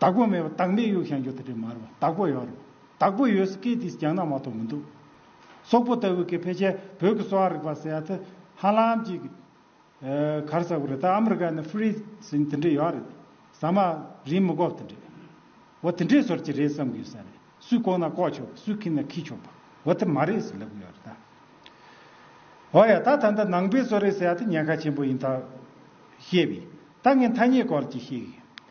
བདག་པོ་མེད་པ་བདག་མེད་གཡུག་ཤང་གྱོ་ད་དྲི་མར་བ་བདག་པོ་ཡོད་རེད་བདག་པོ་ཡོད་ས་སྐད་དེས་རྒྱང་ན་མ་ཐོག་མི་འདུག་སོག་པོ་ལྟ་བུ་གི་ཕལ་ཆེར་བོད་ཀྱི་གསོ་བ་རིག་པ་ཟེར་ཡ་ད་ཧ་ལམ་གྱི་གར་ཟ་བུ་རེད་ད་ཨ་མི་རི་ཀ་ནས་ཧྥུ་རི་ཟིན་དེ་འདྲས་ཡོད་རེད་ཟ་མ་རིན་མི་གོབ་དེ་འདྲས་བ་དེ་འདྲས་ཟོར་གྱི་རེད་བསམ་གྱི་ཡོད་ས་རེད་སུས་ལྐོག་ན་ལྐོག་ཆོག་གི་སུས་ཁིད་ན་ཁིད་ཆོག་པ་བ་དེ་མ་རེད་ཟེར་ལབ་གི་ཡོད་རེད་ད་འོ་ཡ་ད་ད་ནྡ་ནང་པའི་གསོ་རེད་ཟེར་ཡ་ད་ཉེན་ཁ་ཆེན་པོ་ཡིན་ད་ཤེས་པས་ད་ངས་མཐའ་སྙད་སྐོར་གྱི་ཤེས་གི་ཡོད།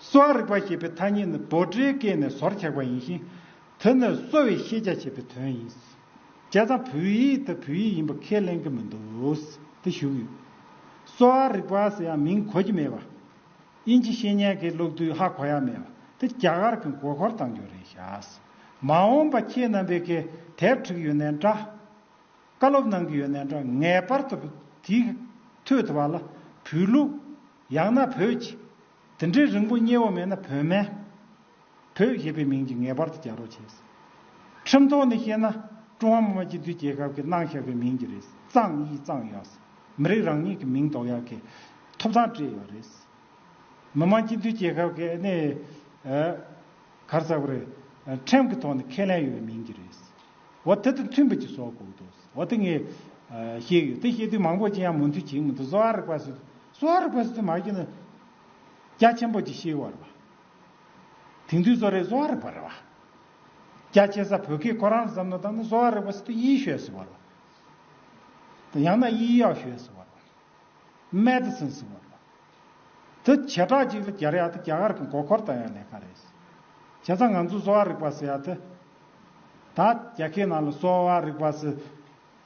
གསོ་བ་རིག་པ་ཞེས་པའི་ཐ་སྙད་ནི་བོད་སྤྲེའུ་སྐད་ནས་བཟོར་ཆགས་པ་ཡིན་ཞིང། དེ་ནི་གསོ་བའི་ཤེས་བྱ་ཞེས་པའི་དོན་ཡིན། བྱས་ཙང་བོད་ཡིག་དེ་བོད་ཡིག་ཡིན་པ་ཁས་ལེན་གྱི་མི་འདུག་དེ་བཞུགས་ཡོད། གསོ་བ་རིག་པ་ཟེར་ཡང་མིང་གོ་གི་མེད་པ། དབྱིན་ཇི་བཤེས་གཉེན་གྱིས་ཀློག་དུས་ཧ་གོ་ཡ་མེད་པ་དེ་རྒྱ་གར་གྱི་མགོ་འཁོར་བཏང་རྒྱུ་རེད་བྱ། མ་འོངས་པ་ཁྱེད་རྣམ་པས་གི་དེབ་བྲིས་ཡོད་ནའི་འདྲ། བཀའ་སློབ་གནང་གི་ཡོད་ནའི་འདྲ་ངེས་པར་དུ་དེ་ཐོས་ཐུབ་པ་ལ་བོད་ལུགས། ཡང་ན་བོད་ཅེས། དེ་འདྲའི་རིང་པོ་བསྙད་བ་མེད་ན་བོད་སྨན། བོད་ཞེས་པའི་མིང་གིས་ངེས་པར་དུ་རྒྱག་རོགས་བྱས། ཁྲིམས་ཐོག་ནས་བཤད་ན། ཀྲུང་ཧྭ་མི་དམངས་སྤྱི་མཐུན་རྒྱལ་ཁབ་ཀྱི་གནང་བཞག་གི་མིང་གི་རེད་གཙང་དབྱིས་གཙང་གཡག། མི་རིགས་རང་ཉིད་ཀྱི་མིང་འདོགས་ཡག་གི་ཐོབ་ཐང་སྤྲད་ཡོད་རེད། མི་དམངས་སྤྱི་མཐུན་རྒྱལ་ཁབ་ཀྱི་ནི། གར་ཟ་བར། ཁྲིམས་ཀྱི་ཐོག་ནས་ཁས་ལེན་ཡོད་པའི་མིང་གི་རེད། འོ་དེ་དང་མཐུན་པའི་ཅིག་བཟོ་དགོས་འདུག་འོ་དེ་ངས། བཤད་ཡོད་དེ་བཤད་དུས་མང་པོ་ཅི་ཡང་མུ་མཐུད་བྱེད་མི་འདུག་བཟོ་ཨ་རིག་པ་སུ། གསོ་བ་རིག་པའི་སེམས་མ་སྐྱེས་ན། རྒྱ་ཆེན་པོ་ཅིག་ཤེས་བར་བ། དེང་དུས་གསོ་རིག་གསོ་བ་རིག་པར་བ། རྒྱ་ཆེ་ས་བོད་སྐད་ཁོ་རང་ཙམ་ན་བཏང་ན་གསོ་བ་རིག་པ་སི་ཏུ་དབྱིའི་ཤོས་སུ་བར་བ། དང་ཡང་ན་དབྱིའི་གཡག་ཤོས་སུ་བར་བ། Medicine སུ་བར་བ། དེ་བྱེ་བྲག་གཅིག་ལ་རྒྱ་རི་ཡག་དེ་རྒྱ་གར་གི་མགོ་འཁོར་དང་ཡང་ལས་ཀ་རེད། བྱས་ཙང་ང་ཚོས་གསོ་བ་རིག་པ་སི་ཡག་དེ། ད་རྒྱ་ཁའི་ནང་ལ་གསོ་བ་རིག་པ་སི།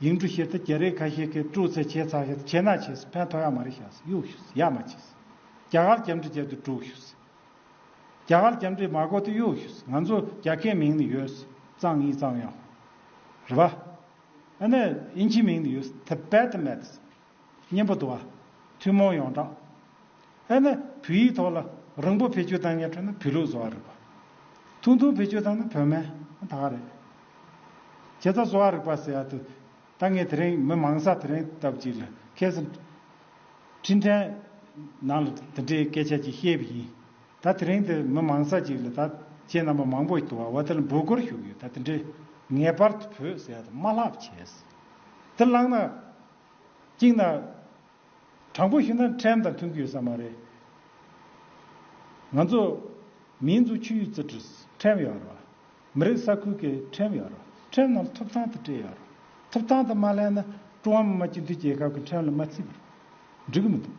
ཡིག་འབྲུ་ཤེས་ཚེ་རྒྱ་རིགས་ཁ་ཤས་ཀྱིས་སྤྲུག་ཚེ་བྱས་ཚར་ཤེས་ཚེ་ཆེ་ན་བྱས་སྲིད་ཕན་ཐོགས་ཡག་མ་རེད་ཤག་སྲིད་གཡུག་ཤུ་སྲིད་ཡག་མ་བྱས་སྲིད་རྒྱ་གར་རྒྱབ་འདྲི་བྱས་དུས་སྤྲུག་ཤུ་སྲིད་རྒྱ་གར་རྒྱབ་འདྲི་མ་གོ་དུས་གཡུག་ཤུ་སྲིད་ང་ཚོ་རྒྱ་སྐད་མིང་ནི་ཡོད་སྲིད་གཙང་ཡིན་གཙང་ཡག་ཧོ་རེད་བ། ཨ་ནི་ཨིན་ཇིའི་མིང་ནི་ཡོད་སྲིད་དེ་བད་དེ་མད་སྲིད། སྙན་པོ་འདུག་ཨ། ཐུན་མོང་ཡོངས་གྲགས། ཨེ་ན། བོད་ཡིག་ཐོག་ལ་རིང་པོ་བེད་སྤྱོད་བཏང་མཁན་ཁྲོད་ན་བོད་ལུགས་བཟོ་བ་རིག་པ། ཐུང་ཐུང་བེད་སྤྱོད་བཏང་ན་བོད་སྨན་དག་རེད། བྱས་ཙང་བཟོ་བ་རིག་པ་ཟེར་ཡག་ཏུ། ད་ངས་དེ་རིང་མི་མང་ས་དེ་རིང་ལྟ་བུ་ཅིག་ལ་ཁེལ་སོང། འཕྲིན་ཕྲན། ནང་ལ་དེ་འདྲའི་སྐད་ཆ་ཅིག་བཤད་བུ་ཡིན། ད་དེ་རིང་འདིར་མི་མང་ས་ཅིག་ལ་ད་ཁྱེད་རྣམ་པ་མང་པོ་ཞིག་དུ་བ་དེ་ལ་འབོད་སྐུལ་ཞུ་གི་ཡོད་ད་དེ་འདྲའི། ངེས་པར་དུ་བོད་ཟེར་ཡག་ཏུ་མ་ལྷག་བྱས། དེ་བླངས་ན། གཅིག་ན། དྲང་པོ་ཞུས་ན་ཕྲན་དང་མཐུན་གྱི་ཡོད་ས་མ་རེད། ང་ཚོ། མིའི་འཛུགས་ཆུ་ཡུས་ཙི་ཀྲིས་ཕྲན་ཡོད་རོ། མི་རིགས་ས་ཁུལ་གྱི་ཕྲན་ཡོད་རོ། ཕྲན་རྣམས་ཐུབ་ཐང་དུ་སྤྲད་ཡོད་རོ། ཐུབ་ཐང་དུ་མ་ལེན་ན་ཀྲུང་ཧྭ་མི་དམངས་སྤྱི་མཐུན་རྒྱལ་ཁབ་ཀྱི་ཕྲན་ལ་མ་བརྩིས་པར་འགྲིག་གི་མི་འདུག་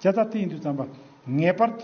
བྱ་ཐབས་དེ་ཡིན་དུས་བརྩམས་པ་ངེས་པར་དུ།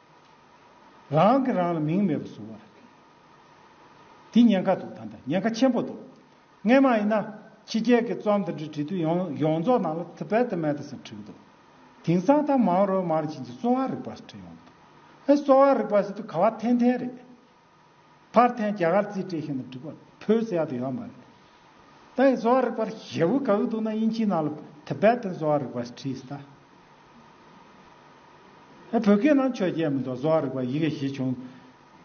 རང་གིས་རང་ལ་མིང་མེད་པར་བཟུང་བ། འདི་ཉེན་ཁ་འདུག་ད་ལྟ་ཉེན་ཁ་ཆེན་པོ་འདུག་ངས་མ་ཡིན་ན། ཕྱི་རྒྱལ་གྱི་རྩོམ་དང་འབྲི་འབྲི་དུས་ཡོངས་རྫོགས་ནང་ལ་ཐི་བེད་ཏི་མེད་ཏི་སེར་བྲིས་འདུག་དེང་སང་ད་མང་རོལ་མང་རོལ་བྱིན་གྱིས་གསོ་བ་རིག་པ་བྲིས་ཡོང་གི་འདུག་ཨེ་གསོ་བ་རིག་པ་ཞིག་ཏུ་ག་བ་འཐེན་འཐེན་རེད། ཕར་འཐེན་རྒྱ་གར་རྩིས་སྤྲད་ཤིང་ལ་འགྲིག་པར་བོད་སའི་ཡག་ཏུ་ཡོད་མ་རེད། ད་ཡིན་བཟོ་བ་རིག་པར་ཞེ་བོ་ག་གི་འདུག་ན་དབྱིན་ཇིའི་ནང་ལ Tibetan བཟོ་བ་རིག་པ་ཞེས་བྲིས་ཟིན་ད། བོད་སྐད་ནང་ཆོས་རྒྱལ་མི་འདུག་བཟོ་བ་རིག་པ་ཡི་གེ་བཞི་བྱུང།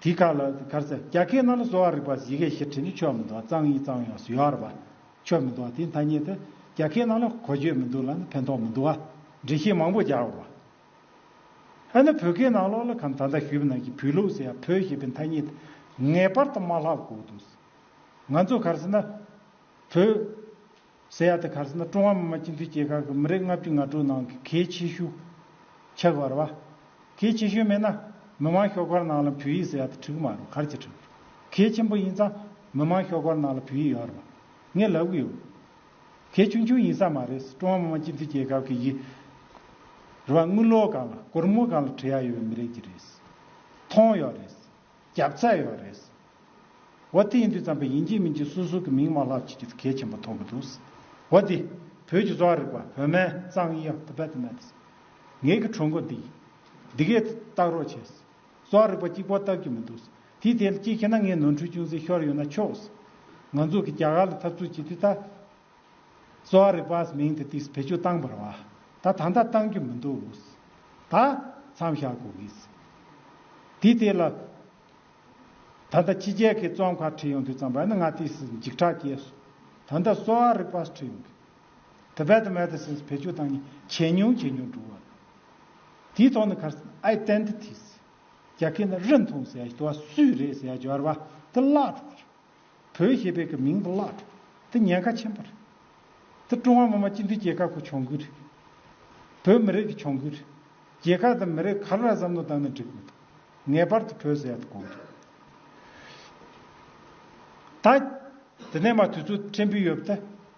དེའི་ཁ་ལ་གར་ཚེ་རྒྱ་སྐད་ནང་ལ་བཟོ་བ་རིག་པ་ཡི་གེ་བཞི་བྲིས་ནས་ཆོས་མི་འདུག་གཙང་ཡིན་གཙང་ཡོང་བཟོ་བ་རིག་པ་ཆོས་མི་འདུག་དེའི་མཐའ་གཉིས་ཏེ་རྒྱ་སྐད་ནང་ལ་གོ་ཆོད་མི་འདུག་ལ་ནི་ཕན་ཐོག་མི་འདུག་བ་འགྲེལ་བཤད་མང་པོ་རྒྱག་དགོས་པ་ཨ་ནི་བོད་སྐད་ནང་ལོགས་ལ་གམ་ད་ལྟ་ཞུས་པ་ནང་གི་བུད་ལུགས་སུ་ཡང་བོད་ཞེས་པའི་མཐའ་གཉིས་དེ་ངེས་པར་དུ་མ་ལྷག་གོ་འདུག། ང་ཚོ་གར་སོང་ན། བོད། ཟེར་ཡ་དེ་གར་སོང་ན་ཀྲུང་ཧྭ་མི་དམངས་སྤྱི་མཐུན་སྐྱེ་ཁག་གི་མི་རེ་ལྔ་བཅུ་ང་དྲུག་ནང་གི་གལ་ཆེ་ཤོས། ཆགས་པར་བ། གལ་ཆེ་ཤོས་མེད་ན། མི་དམངས་ཤོག་ཁག་ནང་ལ་བོད་ཡིག་ཟེར་ཡ་དེ་འཁྲུག་མ་རུང་གར་གྱི་འཁྲུག། གལ་ཆེན་པོ་ཡིན་ཙང་མི་དམངས་ཤོག་ཁག་ནང་ལ་བོད་ཡིག་ཡོད་རེད་བ། ངས་ལབ་གི་ཡོད། གལ་ཆུང་ཆུང་ཡིན་ས་མ་རེད་ཀྲུང་ཧྭ་མི་དམངས་སྤྱི་མཐུན་རྒྱལ་ཁབ་ཀྱི་ཡི་རུ་བ་དངུལ་ལོ་གང་ལ་གོར་མོ་གང་ལ་བྲི་ཡ་ཡོད་མི་རེད་ཀྱི་རེད། མཐོང་ཡོད་རེད། རྒྱབ་ཚད་ཡོད་རེད། འོ་དེ་ཡིན་དུས་ཙམ་པས་ཡིན་གྱི་མིན་གྱི་སུ་སུ་གི་མིང་མ་ལྷག་ཅིག་གིས་གལ་ཆེན་པོ་མཐོང་གི་འདུག་འོ་དེ་བོད་ཀྱི་གསོ་བ་རིག་པ་བོད་སྨན་གཙང་དབྱི་ཡ་ཏི་བེ་ཏི་མེ་ཏི་ངེད་ཀྱི་གྲོས་འགོ་འདི་འདི་གས་བཏགས་རོགས་བྱས། སོགས་རིག་པ་གཅིག་པོ་བཏབ་ཀྱི་མི་འདུག། དེའི་ཐད་ལ་གཅིག་བཤད་ན་ངས་ནོར་འཁྲུལ་ཅུང་ཟད་ཤོར་ཡོད་ན་ཆོག། ང་ཚོ་གི་རྒྱ་གར་ལ་འཐབ་རྩོད་བྱེད་དུས་ད། སོགས་རིག་པ་ཟེར་མིང་དེ་དུས་བེད་སྤྱོད་བཏང་བར་བ། ད་ད་ལྟ་བཏང་གི་མི་འདུག། ད། མཚམས་བཞག་དགོས་ཀྱི། དེའི་ཐད་ལ། ད་ལྟ་ཕྱི་རྒྱལ་གྱི་རྩོམ་ཁག་འཁྲིད་ཡོང་དུས་ཙམ་བ་ཡིན་ན་ང་དུས་སུ་འཇིགས་སྐྲག་སྐྱེས་སོང། ད་ལྟ་སོགས་རིག་པ་འཁྲིད་ཡོང་གི། Tibet Medicines བེད་སྤྱོད་དང་ཇེ་ཉུང་ཇེ་ཉུང་འགྲོ་བ་རེད། དེའི་ཐོག་ནས་ཁར་སན Identities རྒྱ་ཁྱི་ནི་རི་མཐོང་ཟེར་ཡ་ཞི་བ་སུས་རེད་ཟེར་ཡ་སྦྱོར་བ་དེ་བརླག་འགྲོ་བ་རེད། བོད་ཞེས་པའི་གི་མིང་དེ་བརླག་འགྲོ་དེ་ཉེན་ཁ་ཆེན་པོ་རེད། དེ་ཀྲུང་ཧྭ་མི་དམངས་སྤྱི་མཐུན་རྒྱལ་ཁབ་ཀྱི་གྱོང་གུད་རེད། བོད་མི་རིགས་ཀྱི་གྱོང་གུད་རེད། རྒྱལ་ཁབ་དང་མི་རིགས་ག་ལ་ར་བསམ་བློ་བཏང་ནས་འགྲིག་དགོས་འདུག་ངེས་པར་དུ་བོད་ཟེར་ཡ་དེ་དགོངས་འདུག་ད། དེ་ནས་མ་དུས་ཚོད་ཕྲན་བུ་ཡོད་པ་དེ།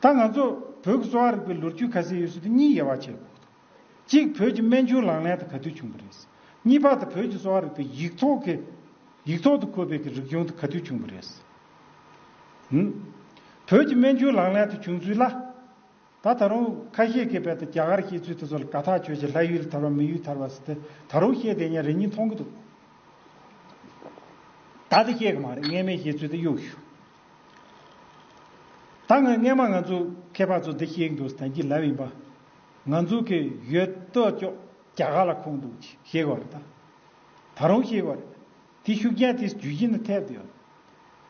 ད་ང་ཚོ་བོད་ཀྱི་གསོ་བ་རིག་པའི་ལོ་རྒྱུས་ཁ་གསལ་ཡོད་ཚུལ་དུ་གཉིས་དབྱེ་བ་ཕྱེ་དགོས་ཐུག། གཅིག་བོད་ཀྱི་སྨན་ཆུང་ལག་ལེན་དུ་ག་དུས་བྱུང་བ་རེད། གཉིས་པ་དེ་བོད་ཀྱི་གསོ་བ་རིག་པའི་ཡིག་ཐོག་གི། ཡིག་ཐོག་ཏུ་འཁོད་པའི་གི་རིག་གཞུང་དུ་ག་དུས་བྱུང་བ་རེད། བོད་ཀྱི་སྨན་ཆུང་ལག་ལེན་དུ་བྱུང་ཚུལ་ལ། ད་ད་རུང་ཁ་ཤས་ཀྱིས་རྦད་དེ་རྒྱ་གར་ཤེས་ཚུལ་དེ་ཚོ་ལ་དགའ་ཐག་ཆོད་ཅིང་ལྷ་ཡུལ་དར་བ་མི་ཡུལ་དར་བ་ཟེར་ཏེ་ད་རུང་བཤད་བསྡད་ཉན་རེ་གཉིས་མཐོང་གི་འདུག། ད་དེ་བཤད་གི་མ་རེད་ངས་མའི་བཤད་ཚུལ་དེ་གཡུག་ཞུ། ད་ང་སྙན་མ་ང་ཚོ་མཁས་པ་ཚོ་འདི་ཤེས་འདུག་ཟེར་གྱི་ལབ་ཡིན་པ། ང་ཚོ་གི་ཡོད་སྟོད་ལྕོག་རྒྱ་གར་ལ་ཁུངས་འདུག་ཅེས་ཤེས་གི་རེད་ད། ད་རུང་ཤེས་གི་རེད། དེ་ཤུགས་རྐྱེན་དེ་རྒྱུད་གཞི་ནས་ཐེབས་ཏེ་ཡོད།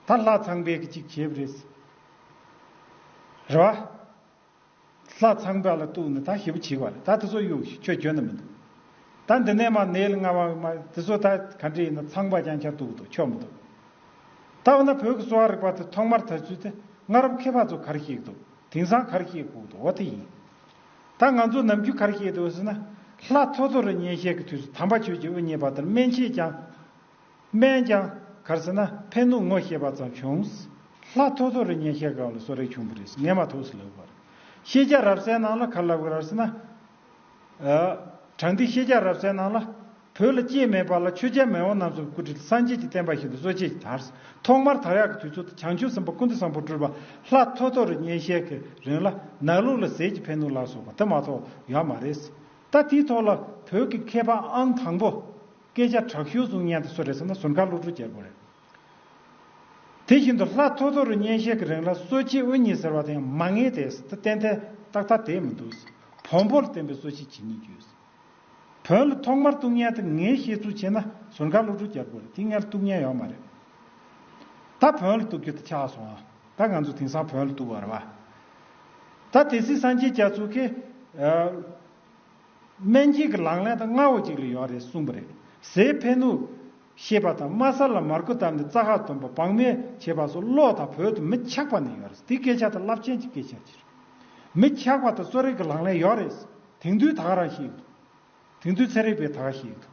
ད་ལྷ་ཚངས་པས་གཅིག་བྱས་པ་རེད། རེད་བ། ལྷ་ཚང་བྲག་ལ་གཏུགས་ནས་ད་ཞེ་བུ་བྱིས་བ་རེད་ད་དེ་ཚོ་གཡུག་ཞིག་ཁྱོད་གྱོན་ནི་མི་འདུག་ད་འདི་ནས་མ་ནེལ་ལྔ་བ་མ་དེ་ཚོ་ད་ག་འདྲི་ཡིན་ན་ཚང་བ་རྐྱང་ཆ་དུག་དུག་ཆོག་མི་འདུག་ད་འོ་ན་བོད་ཀྱི་གསོ་བ་རིག་པ་དེ་ཐོག་མར་དར་ཚུལ་དེ་སྔ་རབས་མཁས་པ་ཚོ་གར་ཤེས་ཀྱི་འདུག་དེང་སང་གར་ཤེས་ཁུག་འདུག་འོ་དེ་ཡིན་ད་ང་ཚོ་ནམ་རྒྱུན་གར་ཤེས་དེ་འོ་ཟེར་ན་ལྷ་ཐོ་ཐོ་རུ་ཉན་ཤས་ཀྱི་དུས་སུ་དམ་པ་ཆོས་ཀྱི་དབུ་བརྙེས་པ་དེར་སྨན་ཤེས་ཀྱང། སྨན་ཀྱང་གར་ཟེར་ན་ཕན་ནུ་ངོ་ཤེས་པ་ཙམ་བྱུང། ལྷ་ཐོ་ཐོ་རེ་ཉན་ཤེས་གང་ལ་སོ་རེ་བྱུང་བ་རེད་ངས་མ་ཐུག་སི་ལབ་པར། ཤེས་རྒྱ་རབ་གསལ་ནང་ལ་གར་ལབ་གི་ར་ཟེར་ན། དྲང་ཐིག་ཤེས་རྒྱ་རབ་གསལ་ནང་ལ། བོད་ལ་སྐྱེས་མེད་པ་ལ་ཆོས་རྒྱལ་མེས་དབོན་ནམ་སོགས་སྐུ་དྲིལ་སངས་རྒྱས་ཀྱི་བསྟན་པ་ཞིག་ཏུ་གསོ་བྱེད་ཀྱི་དར། ཐོག་མར་དར་ཡག་གི་དུས་ཚོད་དུ་བྱང་ཆུབ་སེམས་དཔའ་ཀུན་ཏུ་བཟང་པོ་སྤྲུལ་པ་ལྷ་ཐོ་ཐོ་རེ་ཉན་ཤེས་གི་རིང་ལ་ནགས་ལུག་ལ་ཟས་ཀྱི་ཕན་ནུ་ལ་སོགས་པ་དེ་མ་ཐོག་ཡོད་མ་རེད། ད་དེའི་ཐོག་ལ་བོད་ཀྱི་མཁས་པ་ཨང་དང་པོ། སྐད་ཆ་དྲག་ཤུལ་གཟུགས་བརྙན་དུ་བཟོ་རེད་བསམ་ན་ཟུར་མཁར་གློག་ཕྲུག་རྒྱལ་པོ་རེད། དེ་བཞིན་དུ་ལྷ་ཐོ་ཐོ་རུ་བརྙན་ཤེལ་གྱི་རིང་ལ་གསོལ་ཕྱིའི་དབུ་ཉིད་ཟེར་བ་དེ་ཡང་མ་ངེས་དེ་བསྟན་དེ་ཏག་ཏག་དེ་མི་འདུག་བོང་བུ་ལ་བརྟེན་པའི་གསོལ་ཕྱི་ཇི་སྙེད་རྒྱུ། བོན་ལ་ཐོག་མར་གཏུག་བརྙན་དེ་ངས་ཤེས་ཚུལ་ཕྱེས་ན་ཟུར་མཁར་གློག་ཕྲུག་རྒྱལ་པོ་རེད་དེ་སྔར་གཏུག་བརྙན་ཡོད་མ་རེད། ད་བོན་ལ་གཏུག་རྒྱུ་དེ་ཆགས་སོང་ད་ང་ཚོ་དེང་སང་བོན་ལ་གཏུག་བར་བ། ད་དེ་སྲིད་སངས་རྒྱས་རྒྱ་མཚོ་ཁེ། སྨན་སྐྱིན་གྱི་ལག་ལེན་དང་རྔ་བོ་གཅིག་ལ་ཡོང་རེད་གསུངས་པ་རེད། ཟས་ཕན་ནུས། ཤེས་པ་དང་དམའ་ས་ལ་མར་ཁུ་བཏབ་ནས་རྩ་ཁ་འདོན་པ་བག་མེད་བྱེད་པ་སོགས་བློ་དང་བོད་དུ་མི་ཆགས་པ་ནས་ཡོང་རེད་དེ་སྐད་ཆ་དང་རླབས་ཆེན་གྱི་སྐད་ཆ་གཅིག་རེད། མི་ཆགས་པ་དང་གསོ་རིག་གི་ལག་ལེན་ཡོག་རེད། དེང་དུས་ད་ག་རང་ཤེས་ཡོད་དོ། དེང་དུས་ཚན་རིག་པས་ད་ག་ཤེས་ཡོད་དོ།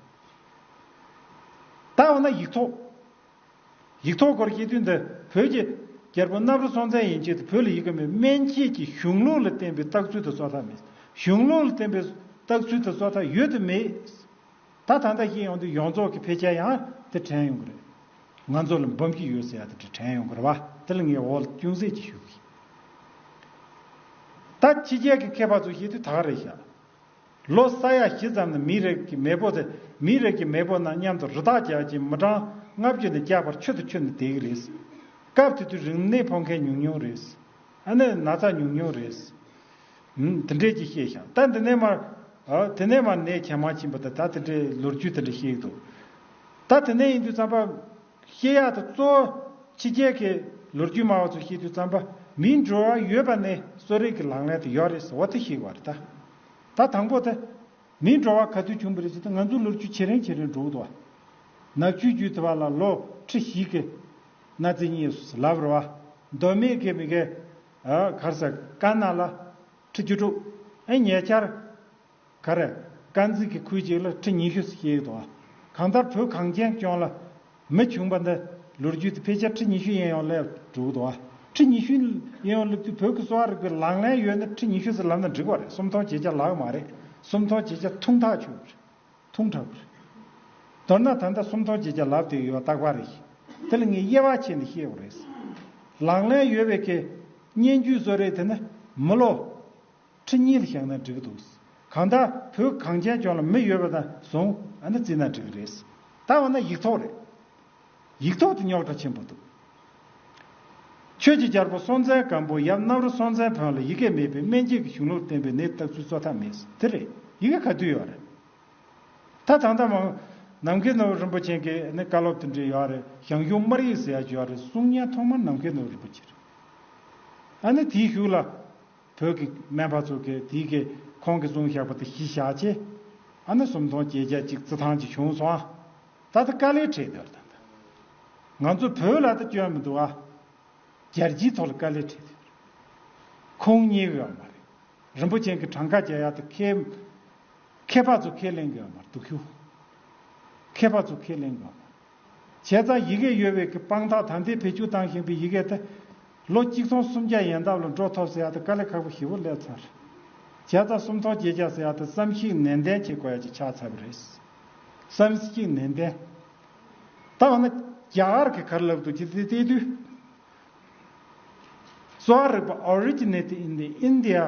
ད་འོ་ན་ཡིག་ཐོག། ཡིག་ཐོག་སྐོར་གྱི་དུས་འདི་བོད་ཀྱི། རྒྱལ་པོ་གནམ་རི་སྲོང་བཙན་ཡན་ཆད་དུ་བོད་ལ་ཡིག་གི་མེད་སྨན་དཔྱད་ཀྱི་གཞུང་ལུགས་ལ་བརྟེན་པའི་བརྟག་ཚུལ་དང་གཙོ་ཐག་མེད། གཞུང་ལུགས་ལ་བརྟེན་པའི་བརྟག་ཚུལ་དང་གཙོ་ཐག་ཡོད་དུ་མེད། ད་ད་ལྟ་ཤེས་ཡོང་དུས་ཡོངས་རྫོགས་ཀྱི་ཕལ་ཆེར་ཡང་དེ་དྲན་ཡོང་གི་རེད། ང་ཚོ་ལ་འབུམ་གྱི་ཡོད་ཟེར་ཡག་དེ་འདྲ་དྲན་ཡོང་གི་རེད་བ་དེ་ལ་ངས་འོག་ལ་ཅུང་ཟད་ཅིག་ཞུ་གི་ཡིན། ད་ཕྱི་རྒྱལ་གྱི་མཁས་པ་ཚོ་ཤེས་དུས་ད་ག་རེ་བཞག། ལོ་ས་ཡ་བཞི་ཙམ་ནས་མིའི་རིགས་ཀྱི་མེས་པོ་དེ་མིའི་རིགས་ཀྱི་མེས་པོ་རྣམས་མཉམ་དུ་རི་དྭགས་རྒྱག་ཅིང་མི་གྲངས་ལྔ་བཅུ་ནས་བརྒྱ་བར་ཆུ་དང་ཆུ་ནི་བསྡད་ཀྱི་རེད། སྐབས་དེ་དུས་རིམས་ནད་ཕོག་མཁན་ཉུང་ཉུང་རེད། ཨ་ནེ་ན་ཚ་ཉུང་ཉུང་རེད། དེ་འདྲས་ཀྱིས་ཤེས་ཤག་ད་དེ་ནས་མར། དེ་ནས་མར་ནད་ཇེ་མང་ཕྱིན་པ་དང་ད་དེ་འདྲས་ལོ་རྒྱུས་དེ་འདྲས་ཤེས་ཀྱི་འདུག་ད་དེ་ནས་ཡིན་དུས་རྩམ་པ། བཤད་ཡག་ཏུ་གཙོ། ཕྱི་རྒྱལ་གྱི་ལོ་རྒྱུས་སྨྲ་བ་ཚོས་བཤད་དུས་རྩམ་པ་མིའི་འགྲོ་བ་ཡོད་པ་ནི་གསོ་རིག་གི་ལག་ལེན་དུ་ཡོད་རེད་ཟེར་བ་དེ་ཞིག་བ་རེད་ད། ད་དང་པོ་དེ། མིའི་འགྲོ་བ་ག་དུས་བྱུང་བ་རེད་ཟེར་དུས་ང་ཚོའི་ལོ་རྒྱུས་ཆེ་རིང་ཆེ་རིང་འགྲོ་གི་འདུག་བ། ནག་ཆུའི་རྒྱུད་དེ་བ་ལ་ལོ་ཁྲི་ཞིག་གི་གནའ་རྫས་གཉིས་ཡོད་སོ་ལབ་རེད་བ། མདོ་སྨད་ཀྱི་མི་ག། གར་ས་དཀར་ནག་ལ། ཁྲི་བཅུ་དྲུག། ཨེ་ཉེ་ཆར། ག་རེ། དཀར་མཛེས་ཀྱི་ཁུལ་གཅིག་ལ་ཁྲི་ཉི་ཤུ་ཞེས་ཡོད་དོ། གང་ལྟར་བོད་གངས་ཅན་ལྗོངས་ལ་མི་བྱུང་པ་འདི་ལོ་རྒྱུས་ཀྱི་ཕལ་ཆེར་ཁྲི་ཉི་ཤུའི་གཡས་གཡོན་སླེབས་གྲུབ་དོ། ཁྲི་ཉི་ཤུའི་གཡས་གཡོན་སླེབས་དུས་བོད་ཀྱི་གསོ་བ་རིག་པའི་ལག་ལེན་ཡོད་ན་ཁྲི་ཉི་ཤུ་ཟེར་ལབ་ན་འགྲིག་པ་རེད་སུམ་ཐོག་བྱེད་བྱ་ལག་མ་རེད་སུམ་ཐོག་བྱེད་བྱ་ཐུང་ཐག་ཆོད་པ་རེད་ཐུང་དྲགས་པ་རེད། མདོར་ན་ད་ལྟ་སུམ་ཐོག་བྱེད་བྱ་ལབ་དེ་ཡོད་རྟགས་པ་རེད། དེ་ལ་ངས་དབྱེ་བ་ཕྱེ་ནས་བཤད་པ་རེད། ལག་ལེན་ཡོད་པའི་གི་སྙན་བརྒྱུད་བཟོ་རེས་དེ་ནི་མི་ལོ། ཁྲི་གཉིས་ལ་བཞག་ན་འགྲིག་གི་འདུག། གང་ལྟར་བོད་གངས་ཅན་ལྗོངས་ལ་མི་ཡོད་པ་དང་ཟུང་ཨ་ནི་བརྩིས་ན་འགྲིག་གི་རེད། ད་འོ་ན་ཡིག་ཐོག་རེད། ཡིག་ཐོག་དེ་རྙོག་དྲ་ཆེན་པོ་འདུག། ཁྱོད་ཀྱིས་རྒྱལ་པོ་སྲོང་བཙན་སྒམ་པོ་ཡབ་གནམ་རུ་སྲོང་བཙན་བོན་ལ་ཡི་གེ་མེད་པའི་སྨན་དཔྱད་ཀྱི་གཞུང་ལུགས་བསྟན་པའི་ནད་བརྟག་ཚུལ་གཙོ་ཐག་མེད་དེ་རེད་ཡི་གེ་ག་དུས་ཡོད་རེད། ད་དང་ད་མང། ནམ་མཁའི་ནོར་བུ་རིན་པོ་ཆེན་གྱིས་ནི་བཀའ་སློབ་དེ་འབྲི་ཡོད་རེད་ཞང་ཞུང་སྨར་ཡིག་ཟེར་ཡག་བརྗོད་རེད་གསུང་སྙན་ཐོག་མར་ནམ་མཁའི་ནོར་བུ་རིན་པོ་ཆེ་རེད། ཨ་ནི་དེའི་གཞུག་ལ། བོད་ཀྱི་སྨན་པ་ཚོ་གིས་དེའི་གིས་ཁོང་གི་གསུང་བཞག་པ་དེ་གཞི་བཞག་ཅེས། ཨ་ནི་སུམ་སྟོང་བརྒྱད་བརྒྱ་གཅིག་རྩི་ཐང་གཅིག་བྱུང་སོང་ཨ། ད་ལྟ་དཀའ་ལས་འཕྲད་འདོད་ལ་དང་དང། ང་ཚོ་བོད་ལ་ད་སྐྱོན་མི་འདུག་ཨ། རྒྱལ་སྤྱིའི་ཐོག་ལ་དཀའ་ལས་འཕྲད་འདོད་རེད། ཁོང་གཉིས་ཀྱི་ཡང་མ་རེད། རིན་པོ་ཆེན་གྱི་གྲངས་ཀ་རྒྱ་ཡག་དེ་ཁེ། ཁེ་སྤག་ཚོ་ཁས་ལེན་གི་ཡང་མ་རེད་དུག་ཤུགས། ཁེ་སྤག་ཚོ་ཁས་ལེན་གི་ཡང་མ་རེད། བྱས་ཙང་ཡི་གེ་ཡོད་བས་ཀྱི་དཔང་རྟགས་དམ་དེས་བེད་སྤྱོད་བཏང་བཞིན་པའི་ཡི་གེ་དེ། ལོ་གཅིག་ཚོང་སུམ་བརྒྱ་ཡན་འདབ་ལ་འགྲོ་ཐོབ་ཟེར་ཡག་དེ་དཀའ་ལས་ཁག་པོ་བཞི་བོ་སླེབས་ཚར། བྱས་ཙང་སུམ་ཐོག་བརྒྱད་བརྒྱ་ཟེར་ཡག་དེ་བསམ་གཞིག་ནན་ཏན་བྱེད་དགོས་ཡག་ཅིག་ཆགས་ཚར་བ་རེད། བསམ་གཞིག་ནན་ཏན། ད་འོ་ན། རྒྱ་གར་གྱི་གར་ལབ་འདུག་ཅི་སྟེ་བལྟས་དུས། གཙོ་བ་རིག་པ Originate in the India།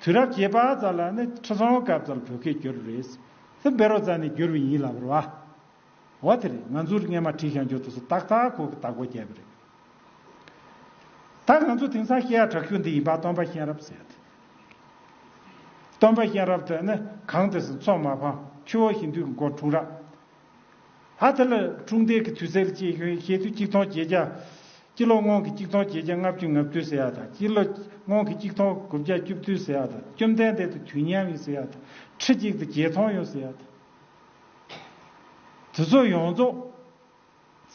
དུས་རབས་བརྒྱད་པ་ཙམ་ལ་ནི་ཁྲི་སྲོང་སྐབས་ཙམ་བོད་སྐད་བསྒྱུར་རེས་ལྷུན་བེ་རོ་ཙམ་ནས་བསྒྱུར་བས་ཡིན་ལབ་པར་བ། འོ་དེ་རེད་ང་ཚོར་སྔས་མ་བྲིས་ཤང་ཇོ་དུ་སུ་ཏག་ཏག་ཁོག་གི་བརྟག་པ་བརྒྱབ་པ་རེད། ད་ང་ཚོ་དེང་སང་སྐད་ཡག་དྲག་ཤོས་འདི་ཡིན་པ་སྟོན་པ་གཤེན་རབ་ཟེར་ཏེ། སྟོན་པ་གཤེན་རབ་དེ་ནི་གངས་ཏི་སི་མཚོ་མ་ཕང་ཆུ་བོ་ཧིན་དུའི་མགོ་འཁྲུངས་རབས་ཧ་ཐི་ལི་ཀྲུང་ཏེ་གི་དུས་ཚད་ལ་སྐྱེས་ཤུན་ཤེས་དུས་གཅིག་མཐོང་བྱེད་རྒྱ། སྤྱི་ལོ་སྔོན་གྱི་གཅིག་མཐོང་བྱེད་རྒྱ་ལྔ་བཅུ་ང་བཅུ་ཟེར་བ་དང་སྤྱི་ལོ་སྔོན་གྱི་གཅིག་མཐོང་དགུ་བརྒྱ་བཅུ་བདུན་ཟེར་བ་དང་བཅོམ་ལྡན་འདས་དུས་མཉམ་ཡིན་ཟེར་བ་དང་ཁྲི་གཅིག་དང་བརྒྱད་མཐོང་ཡོད་ཟེར་བ་དང། དུས་ཚོད་ཡོངས་རྫོགས་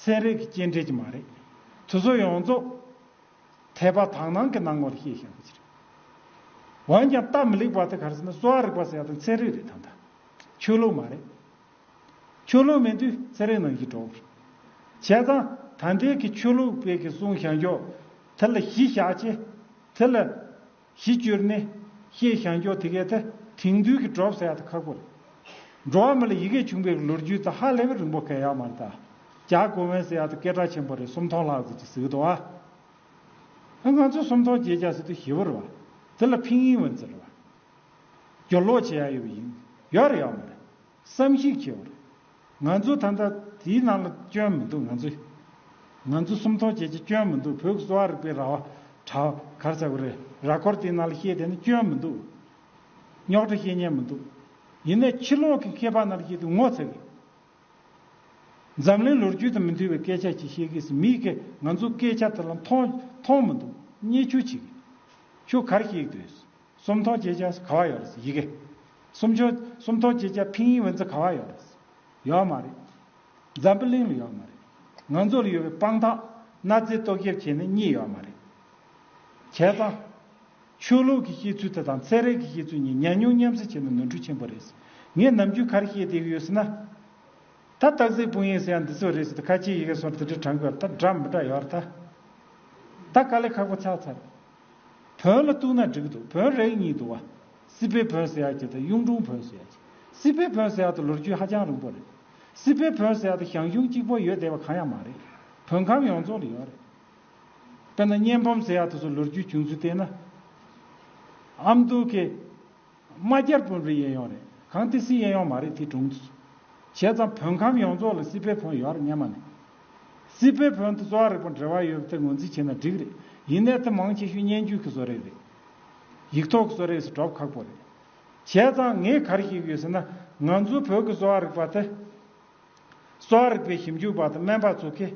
ཚན་རིག་གི་སྐྱེལ་འདྲེན་གྱི་མ་རེད། དུས་ཚོད་ཡོངས་རྫོགས་དེ་བ་དག་ནང་གི་ནང་བར་ཤེས་བཞག་གི་ཆ་རེད། འོན་ཀྱང་སྟབས་མི་ལེགས་པ་དེ་གར་སོང་ན་གསོ་བ་རིག་པ་ཟེར་བ་དང་ཚན་རིག་རེད་དམ་ད། ཆོས་ལུགས་མ་རེད། ཆོས་ལུགས་མེད་དུས་ཚེ་རིང་ནང་བཞིན་གྲོགས། བྱས་ཙང་ད་ལྟའི་གི་ཆོས་ལུགས་དཔེ་གི་གསུང་བྱང་ཀྱོག། དེ་ལ་གཞི་བཞག་ཅེས། དེ་ལ། གཞི་བཅོལ་ནས། བཤད་བྱང་ཀྱོག་དེ་གའི་ཐ་དེང་དུས་གི་གྲོགས་ཟེར་ཡག་ཐ་ཁག་པོ་རེད། འགྲོ་བ་མི་ལ་ཡི་གེ་བྱུང་པའི་གི་ལོ་རྒྱུས་ཐ་ཧ་ལས་པའི་རིང་པོ་ག་ཡག་མར་ཐ། ཇག་གོ་བོན་ཟེར་ཡག་ཐ་སྐད་གྲགས་ཆེན་པོ་རེད་སུམ་ཐོང་ལྷག་ཟེར་གྱི་ཟིག་ཐོ་ཨ། ཨ་ང་ཚོས་སུམ་ཐོང་བརྒྱད་བརྒྱ་ཟེར་དུས་ཞི་བོ་རེད་བ། དེ་ལ་ཕིང་ཡིན་བ་ཛི་རེད་བ། སྒྱོར་ལོག་བྱས་ཡག་ཡོད་པ་ཡིན། ཡག་རེད་ཡག་མ་རེད། བསམ་གཞིག་བྱས་པར། ང་ཚོ་ད་ལྟ་དེའི་ནང་ལ་སྐྱོན་མི་འདུག་ང་ཚོ། ང་ཚོ་སུམ་མཐོང་བྱེད་ཀྱི་སྐྱོན་མི་འདུག་བོད་ཀྱི་གསོ་བ་རིག་པའི་ར་བ། གྲྭ་བ། གར་ཚ་བོ་རེད་ར་སྐོར་དེའི་ནང་ལ་བཤད་དེ་ནི་སྐྱོན་མི་འདུག། རྙོག་དྲ་བཤད་ཉན་མི་འདུག། ཡིན་ནས་ཕྱི་ལོག་གི་མཁས་པ་རྣམས་བཤད་དུས་ངོ་ཚ་གི། འཛམ་གླིང་ལོ་རྒྱུས་དང་མི་མཐུན་བའི་སྐད་ཆ་ཅིག་བཤད་གི་སི་མི་ཁས་ང་ཚོ་སྐད་ཆ་དེ་ལ་མཐོང་མཐོང་མི་འདུག་བརྙས་ཆུ་བྱེད་གི། ཁྱོད་གར་གཤེགས་འདོད་ཟེར། སུམ་ཐོག་ཅེས་བྱ་ག་བ་ཡོད་རེད། ཡི་གེ། སུམ་ཆོ། སུམ་ཐོག་ཅེས་བྱ་ཕིང་ཡིག་འོན་ཚ་ག་བ་ཡོད་རེད། ཡོད་མ་རེད། འཛམ་བུ་གླིང་ལ་ཡོད་མ་རེད། ང་ཚོ་ལ་ཡོད་པའི་དཔང་རྟགས་གནའ་རྫས་རྟོག་ཞིབ་བྱས་ནས་གཉིས་ཡོད་མ་རེད། བྱས་ཙང། ཆོས་ལུགས་ཀྱི་བཤད་ཚུལ་དེ་དང་ཚད་རེག་གི་བཤད་ཚུལ་གཉིས་ཉམས་མྱོང་མཉམ་བསྲེ་བྱས་ན་ནོར་འཁྲུལ་ཆེན་པོ་རེད། ངས་ནམ་རྒྱུན་གར་བཤད་བསྡད་ཀྱི་ཡོད་སྲིད་ན། ད་སྟག་གཟིག་དཔུང་ཡིག་ཟེར་ཡང་འདི་ཚོ་རེད་ཟེར་དུས་ཁ་ཆེའི་ཡི་གེ་སོར་དེ་འདྲའི་དྲང་དགོས་ཡོད་རེད་ད་འདྲ་མི་འདྲ་ཡོད་རེད་ད། ད་དཀའ་ལས་ཁག་པོ་ཚགས་ཚར། བོན་ལ་གཏུགས་ན་འགྲིག་གི་འདུག་བོན་རེག་གཉིས་འདུག་བ། སྲིད་པའི་བོན་ཟེར་ཡག་གི་དང་གཡུང་དྲུང་བོན་ཟེར་ཡག་གི། སྲིད་པའི་བོན་ཟེར་ཡག་དང་ལོ་རྒྱུས་ཧ་ཅང་རིང་པོ་རེད། སྲིད་པའི་བོན་ཟེར་ཡག་དང་ཞང་ཞུང་གཅིག་པོ་ཡོད་བསྡད་པ་གང་ཡང་མ་རེད། བོན་ཁམས་ཡོངས་རྫོགས་ལ་ཡོད་རེད། དཔེར་ན་གཉན་འབུམ་ཟེར་ཡག་དེ་ཚོ་ལོ་རྒྱུས་བྱུང་ཚུལ་བལྟས་ན། ཨ་མདོ་གི། དམའ་རྒྱལ་བོན་པོའི་གཡས་ཡོང་རེད་གང་དེ་སིའི་གཡས་ཡོང་མ་རེད་དེ་དྲུང། བྱས་ཙང་བོན་ཁམས་ཡོངས་རྫོགས་ལ་སི་པའི་བོན་ཡོད་རེད་སྙན་མ་ནི། སི་པའི་བོན་དུ་གཙོ་བ་རིག་པ་འབྲེལ་བ་ཡོད་པ་དེ་ངོས་འཛིན་བྱེད་ན་འགྲིག་རེད་ཡིན་ནའི་དེ་མང་ཆེ་ཤོས་སྙན་རྒྱུད་ཀྱི་བཟོ་རེས་རེད། ཡིག་ཐོག་གི་བཟོ་རེས་སུ་གྲོབ་ཁག་པོ་རེད། བྱས་ཙང་ངས་ག་རེ་ཤེས་ཀྱི་ཡོད་ཟེར་ན་ང་ཚོའི་བོད་ཀྱི་གསོ་བ་རིག་པ་དེ། གསོ་བ་རིག་པའི་ཞིབ་འཇུག་པ་དང་སྨན་པ་ཚོ་གིས།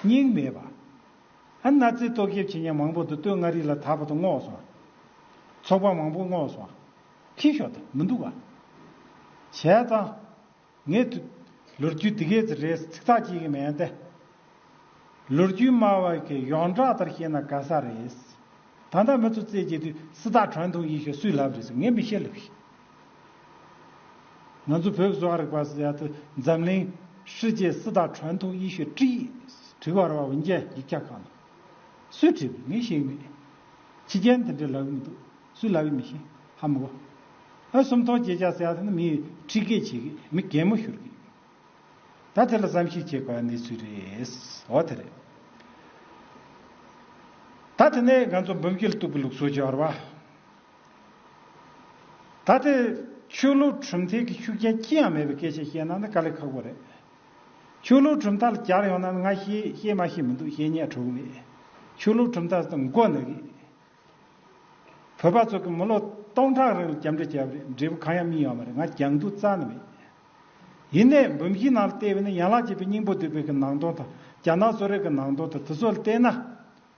སྙིང་མེད་པ། ཨ་ན་ཙི་ཏོ་སྐྱེབས་བྱེད་མཉམ་མང་པོ་དུ་སྟོད་མངའ་རིས་ལ་དར་བ་དུ་བསྔོགས་སོ། ཚོགས་པ་མང་པོ་བསྔོགས་སོ། ཁྱི་ཤོ་ད་མི་འདུག་ག། བྱས་ཙང། ངས། ལོ་རྒྱུས་འདི་གས་ཚེ་རེས་ཚིག་ཐག་གཅིག་གི་མེད་ཏེ། ལོ་རྒྱུས་སྨྲ་བ་གིས་ཡོངས་གྲགས་ལྟར་བཤད་ན་ག་ས་རེད། ད་ལྟ་མི་ཚོ་རྩེད་བྱེད་དུས་སི་ཏག་གྲོན་ཐུང་ཡིད་ཤོ་སུས་ལབ་རེད་ཟེར་ངས་མི་ཤེས་ལབ་ཤེས། ང་ཚོ་བོད་བཟོ་བ་རིག་པ་སི་ཡ་ཏུ་འཛམ་གླིང་ཧྲི་ཅེ་སི་ཏག་ཁྲོན་ཐུག་ཡེ་ཤུ་ཀྲི་ཀྲི་བར་བ་བིན་ཅན་ཡིག་ཆ་ཁང་ནང་སུས་བྲིས་པའི་ངས་ཤེས་མེད། ཕྱི་རྒྱལ་འདི་འདྲའི་ལབ་ཡི་མི་འདུག་སུས་ལབ་ཡི་མི་ཤེས་ཧ་མི་གོ། ཨ་སུམ་ཐོག་བརྗེད་བྱ་སི་ཡ་ཏུ་ནི་མིའི་ཁྲི་སྐད་བྱེད་གི་མི་གད་མོ་ཤོར་གི་ཡོད། ད་དེ་ལ་བསམ་གཞིག་བྱེད་དགོས་པ་གནས་ཚུལ་རེད་འོ་དེ་རེད། ད་དེ་ནས་ང་ཚོ་འབུམ་སྐྱིལ་གཏུག་གི་ལུགས་སྲོལ་བརྗོད་བར་བ། ད་ལྟའི་ཆོས་ལུགས་གྲུབ་མཐའི་གི་ཤུགས་རྐྱེན་ཅི་ཡང་མེད་པའི་སྐད་ཆ་བཤད་ན་ནི་དཀའ་ལས་ཁག་པོ་རེད། ཆོས་ལུགས་གྲུབ་མཐའ་ལ་གྱར་ཡོང་ན་ནི་ང་ཤེས་ཤེས་མ་ཤེས་མི་འདུག་ཤེས་ཉེས་གྲོགས་མེད། ཆོས་ལུགས་གྲུབ་མཐའ་ཟེར་ན་མགོ་ནི་རེད། བོད་པ་ཚོ་གི་མི་ལོ་སྟོང་ཕྲག་རིང་ལ་རྒྱབ་འགྲེལ་བྱས་པ་རེད་འབྲས་བུ་གང་ཡང་སྨིན་ཡོང་མ་རེད་ང་གྱང་དུ་རྩ་ནི་མེད། ཡིན་ནས་འབུམ་བཞིའི་ནང་ལ་བལྟས་པས་ནི་ཡན་ལག་བརྒྱད་པའི་སྙིང་པོ་བསྡུས་པའི་གི་ནང་དོན་དང་རྒྱ་ནག་གསོ་རིག་གི་ནང་དོན་དང་དེ་ཚོ་ལ་བལྟས་ན།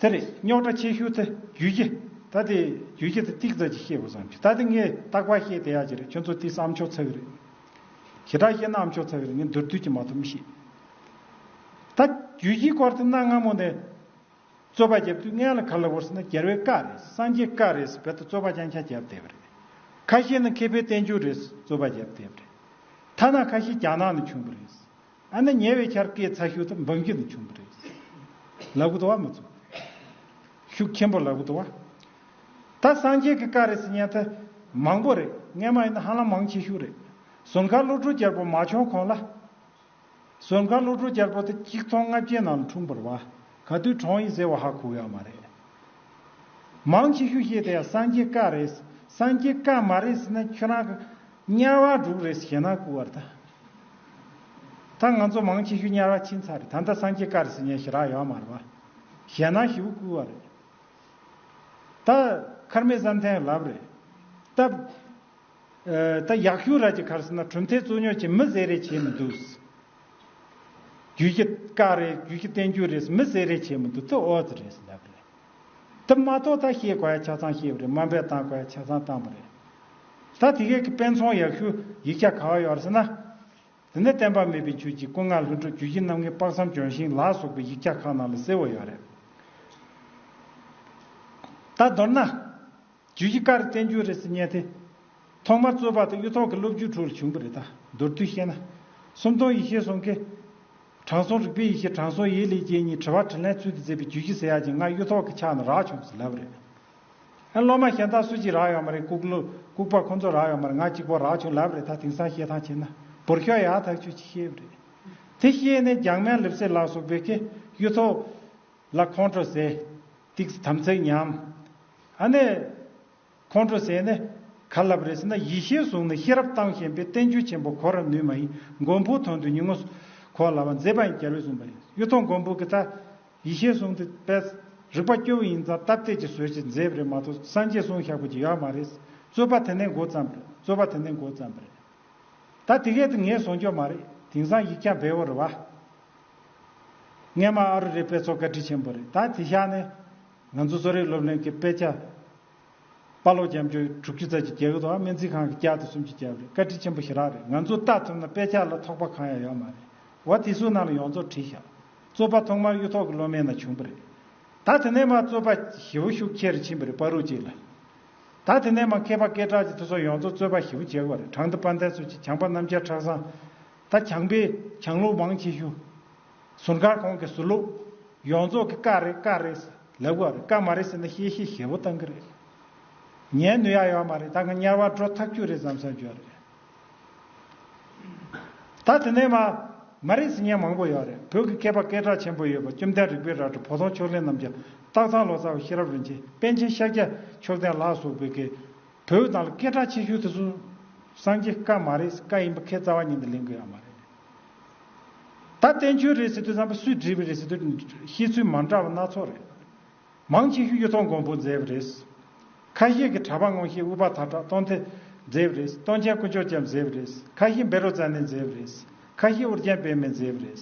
དེ་རེད་རྙོག་དྲ་ཆེ་ཤོས་དེ་རྒྱུས་ཁྱི་ད་དེ་རྒྱུས་ཁྱི་དེ་ཏིག་ཙག་ཅིག་བཤད་དགོས་བསམ་ཤེས་ད་དེ་ངས་རྟག་པར་བཤད་བསྡད་ཡག་ཅིག་རེད་ཁྱོད་ཚོ་དེ་ས་ཨམ་ཆོག་ཚ་གི་རེད་ཞེ་དྲག་བཤད་ན་ཨམ་ཆོག་ཚ་གི་རེད་ངས་མདོར་བསྡུས་ཀྱི་མ་ཐུབ་མི་ཤེས་ད་རྒྱུས་ཁྱིའི་སྐོར་དེ་གནའ་སྔ་མོ་ནས་རྩོད་པ་བརྒྱབ་དུས་ངའི་ལ་ག་ལ་བོར་ཟེར་ན་རྒྱལ་བའི་བཀའ་རེད་སངས་རྒྱས་བཀའ་རེད་བེད་དུ་རྩོད་པ་རྐྱང་རྐྱང་བརྒྱབ་བསྡད་པ་རེད་ཁ་ཤས་ནི་མཁས་པའི་བསྟན་བཅོས་རེད་རྩོད་པ་བརྒྱབ་བསྡད་པ་རེད་ཐ་ན་ཁ་ཤས་རྒྱ་ནག་ནས་བྱུང་བ་རེད། ཨ་ནི་ཉེ་བའི་ཆར་སྐད་ཚ་ཤུལ་དུ་འབབ་རྒྱུ་ནི་བྱུང་གི་རེད། ལ་གུ་ཏོ་བ་མི་ཚུགས། ཤུགས་ཆེན་པོ་ལ་གུ་ཏོ་བ། ད་སངས་རྒྱས་ཀྱི་བཀའ་རེད་ཟེར་སྙན་ཐོས། མང་པོ་རེད་རྔན་མ་ཡིན་ན་ཧ་ལམ་མང་ཆེ་ཤུགས་རེད། ཟུར་མཁར་བློ་གྲོས་རྒྱལ་པོ་མ་བྱོན་གོང་ལ། ཟུར་མཁར་བློ་གྲོས་རྒྱལ་པོ་དེ་གཅིག་ཚོང་ལྔ་བརྒྱའི་ནང་ལ་འཁྲུངས་པར་བ། ག་དུས་གྲོངས་ཡིན་ཟེར་བ་ཧ་གོ་ཡག་མ་རེད། མང་ཆེ་ཤུགས་བཤད་དེ་ཡང་སངས་རྒྱས་བཀའ་རེད། སངས་རྒྱས་བཀའ་མ་རེད་ཟེར་ན་ཁྱོད་རང་གི། དམྱལ་བ་དྲུག་རེ་ཞེ་ན་བསྐུལ་བར་བྱ། ད་ང་ཚོ་མང་ཆེ་ཤོས་དམྱལ་བ་ཕྱིན་ཚར་ད་ལྟ་སངས་རྒྱས་བཀའ་རེ་ཟེར་ཉེ་ཞེ་རག་ཡོད་མ་རེད་པ། ཞེ་ན་ཞེ་བོ་བསྐུལ་བ་རེད། ད་མཁར་མེད་བསམ་ཐེངས་ལབ་རེད། ད། ད་ཡག་ཤོས་ར་གྱི་ཁར་ཟེར་ན་གྲུབ་མཐའི་རྩོད་རྙོག་ཅིག་མི་ཟེར་རེ་བྱེད་མི་འདུག། རྒྱུད་ཀྱི་བཀའ་རེད་རྒྱུད་ཀྱི་བསྟན་རྒྱུད་རེད་མི་ཟེར་རེ་བྱེད་མི་འདུག་དེ་ཨོ་ཙི་རེད་ལབ་རེད། ད་མ་གཏོགས་ད་ཤེས་དགོས་ཆ་ཚང་ཤེས་པ་རེད་དམའ་འབེབས་བཏང་དགོས་ཆ་ཚང་བཏང་པ་རེད། ད་དེ་གས་ཀྱི་དཔེ་མཚོན་ཡག་ཤོས་ཡིག་ཆ་ག་བ་ཡོད་ཟེར་ན། དེ་ནས་བསྟན་པ་མེད་པའི་ཆོས་ཀྱི་སྐུ་ལྔ་ལྷུན་གྲུབ་རྒྱུད་བཞི་རྣམ་ལྔའི་དཔག་བསམ་ལྗོན་ཤིང་ལ་སོགས་པའི་ཡིག་ཆ་ཁག་ནང་ལ་གསལ་བོ་ཡོད་རེད། ད་མདོར་ན། རྒྱུ་ཡི་ཀར་བཙན་རྒྱུ་རེས་བསྙད་དེ། ཐོག་མར་རྩོད་པ་དང་གཡུ་ཐོག་གི་སློབ་རྒྱུ་དྲུག་ལ་བྱུང་བ་རེད་ད། མདོར་བསྡུས་བཤད་ན། སུམ་སྟོང་ཡེ་ཤེས་གསུང་གི། དྲང་སྲོང་རིག་པའི་ཡེ་ཤེས་དྲང་སྲོང་ཡེ་ལེ་རྒྱལ་གཉིས་དྲི་བ་དྲིས་ལན་ཚུལ་དུ་མཛད་པའི་རྒྱུ་བཞི་ཟེར་ཡག་ཅིང་སྔར་གཡུ་ཐོག་གི་ཕྱག་ན་རག་བྱུང་བ་ཟེར་ལབ་པ་རེད། ཨ་སློབ་མ་གཞན་དག་སུ་གཅིག་རག་ཡོད་མ་རེད་ལྐུགས་པ་ཁོང་ཚོ་རག་ཡོད་མ་རེད་ང་གཅིག་པོ་རག་བྱུང་ལབ་པ་རེད་ད་དེང་སང་བཤད་སྟངས་བྱས་ན་བོར་ཤོག་ཡག་ཐག་ཆོད་ཅིག་ཤེས་པ་རེད། དེ་ཤེས་ནས་རྒྱང་མན་ལེབ་སེ་ལགས་སོགས་བོད་སྐད་གཡུ་ཐོག་ལ་ཁོང་ཁྲོ་ཟེར། ཏིགས་དམ་ཚིག་ཉམས། ཨ་ནེ། ཁོང་ཁྲོ་ཟད་ནས། ག་ལ་བ་རེ་ཟེར་ན་ཡེ་ཤེས་གཟུགས་ནི་ཤེས་རབ་བཏང་ཞེན་པའི་བསྟན་བཅོས་ཆེན་པོ་གོ་ར་ནུས་མ་ཡིན་མགོན་པོའི་དོན་དུ་ཉིན་ངོ་གོ་ལ་བ་མཛེས་པ་ཡིན་རྒྱལ་བས་གསུངས་པ་ཡིན་གཡུ་ཐོག་མགོན་པོ་གི་ད་ཡེ་ཤེས་གཟུགས་འདི་པས་རིག་པ་སྐྱོ་བོ་ཡིན་ཙང་སྟབས་བདེ་ཅིག་བཟོས་ཅིག་མཛེས་པ་རེད་མ་གཏོགས་སངས་རྒྱས་གསུང་ཞག་པོ་ཅིག་ཡོད་མ་རེད་རྩོད་པ་དེ་ནས་མགོ་བརྩམས་རེད་རྩོད་པ་དེ་ནས་མགོ་བརྩམས་པ་རེད་ད་དེ་གས་དེ་ངས་བཟོ་འཇོག་མ་རེད་དེང་སང་ཡིག་རྐྱང་བེའོ་རེད་བ། ངས་མ་ཨ་རུ་རི་དཔེ་ཚོགས་བཀའ་དྲིན་ཆེན་པོ་རེད་ད་དེ་ཤག་ནས་ང་ཚོ་གསོ་རིག་སློབ་གླིང་གི་དཔེ་ཆ་དཔའ་ལོ་རྒྱ་མཆོ་དྲུག་ཅུ་རྩ་གཅིག་རྒྱལ་ཁབ་སྨན་རྩིས་ཁང་གི་བསྐྱར་དུ་སུམ་ཅུ་བརྒྱབ་རེད་བཀའ་དྲིན་ཆེན་པོ་ཞེ་རག་རེད་ང་ཚོ་ལྟ་ཐུབ་ན་དཔེ་ཆ་ལ་ཐོག་པ་གང་ཡང་ཡོད་མ་རེད་བ་དེ་སུ་ནང་ལ་ཡོང་རྫོགས་བྲིས་ཤག་རྩོད་པ་ཐོག་མར་གཡུ་ཐོག་གི་སློབ་མའི་ནང་བྱུང་པ་རེད་ད་དེ་ནས་མ་རྩོད་པ་ཞི་བོ་ཤུགས་ཆེ་རུ་ཕྱིན་པ་རེད་དཔའ་རུ་གཅིག་ལ་ད་དེ་ནས་མ་མཁས་པ་སྐད་གྲགས་ཀྱི་དུས་སོགས་ཡོང་རྫོགས་རྩོད་པ་ཞི་བོ་བྱེད་དགོས་རེད་དྲང་བདེན་དཔའ་མཐའི་ཚུལ་གྱིས་བྱང་པ་རྣམ་རྒྱལ་ཁྲག་བཟང་ད་བྱང་པས་བྱང་ལུགས་མང་ཆེ་ཤོས་ཟུར་མཁར་གོང་གི་ཟུར་ལུགས། ཡོངས་རྫོགས་ཀྱི་ཀ་རེད་ཀ་རེད་ལབ་གི་བ་རེད་ཀ་མ་རེད་ཟེར་ན་གཤེ་གཤེ་ཞེ་བོ་བཏང་གི་རེད། ཉན་ནུས་ཡག་ཡོད་མ་རེད་ད་ང་དམྱལ་བར་འགྲོ་ཐག་ཆོད་རེད་བསམ་བསམ་བྱོས་རེད། ད་དེ་ནས་མ་མ་རེད་ཟེར་མཁན་མང་པོ་ཡོད་རེད་བོད་ཀྱི་མཁས་པ་སྐད་གྲགས་ཆེན་པོ་ཡོད་པ་བཅོམ་ལྡན་རིག་པའི་རལ་གྲི་བོ་དོང་ཕྱོགས་གླིང་རྣམ་རྒྱལ་སྟག་ཚང་ལོ་ཙཱ་བ་ཤེས་རབ་རིན་ཆེན་པཎ་ཆེན་ཤཱཀྱ་མཆོག་ལྡན་ལགས་སོགས་བོད་སྐད་བོད་དང་ལ་སྐད་གྲགས་ཆེ་ཤོས་དེ་ཚོ་སངས་རྒྱས་བཀའ་མ་རེད་བཀའ་ཡིན་པ་ཁའི་རྩ་བ་ཉིད་དུ་ལེན་དགོས་ཡག་མ་རེད། ད་བསྟན་འཆོལ་རེད་ཟེར་དུས་བསམ་པ་སུས་བྲིས་པ་རེད་ཟེར་དུས་བཤད་ཚུལ་མ་འདྲ་བ་སྣ་ཚོགས་རེད། མང་ཆེ་ཤོས་གཡུ་ཐོག་མགོན་པོ་མཛད་པ་རེད། ཁ་ཤས་ཀྱིས་གྲ་པ་སྔོན་ཤེས་དབུ་བ་ཐར་གྲགས་སྟོན་ཐེ་མཛད་པ་རེད་སྟོན་ཆེན་དཀོན་མཆོག་ཅེ་མཛད་པ་རེད་ཁ་ཤས་འབེ་རོ་ཙཱ་ནེ་མཛད་པ་རེད་ཁ་ཤས་ཨོ་རྒྱན་པད་མས་མཛད་པ་རེད།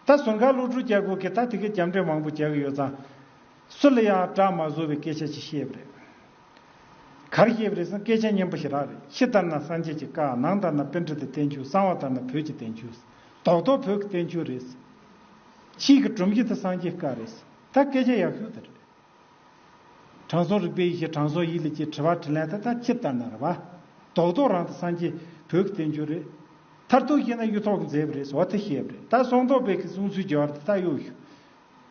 ད་ཟུར་མཁར་ལུག་ཕྲུག་སྐྱ་གུ་གིས་ད་དེ་གའི་རྒྱབ་འགྲེལ་མང་པོ་བྱ་གི་ཡོད་ཙང། སུ་ལ་ཡང་བཀྲག་མ་བཟོ་བའི་སྐད་ཆ་ཅིག་བཤད་པ་རེད། གར་ཞེས་པ་རེ་ཟུང་སྐད་ཆ་སྙན་པོ་ཞེ་དྲག་རེད་ཕྱི་ལྟར་ན་སངས་རྒྱས་ཀྱི་བཀའ་ནང་ལྟར་ན་དཔེ་འབྲུ་དང་བསྟན་འགྱུར་གསང་བ་ལྟར་ན་བོད་ཀྱི་བསྟན་འགྱུར་རྡོག་རྡོག་བོད་ཀྱི་བསྟན་འགྱུར་རེད། ཕྱིས་ཀྱི་སྒྲོམ་གཞི་དེ་སངས་རྒྱས་བཀའ་རེད་ད་སྐད་ཆ་ཡག་ཤོས་དེ་རེད། དྲང་སྲོང་རིག་པའི་ཡེ་ཤེས་དྲང་སྲོང་ཡིད་ལས་སྐྱེས་དྲི་བ་དྲི་ལན་དེ་དག་ཕྱི་ལྟར་ན་རེད་བ། རྡོག་རྡོག་རང་དང་སངས་རྒྱས་བོད་ཀྱི་བསྟན་འགྱུར་རེད། མཐར་ཐུག་བཤད་ན་གཡུ་ཐོག་གི་མཛེས་པ་རེད་ཟོ་དེ་ཤེས་པ་རེད་ད་སོང་ཐོག་དཔེ་ཀྱི་གསུང་ཚུལ་རྒྱ་བར་དེ་དག་གཡོག་ཞུ།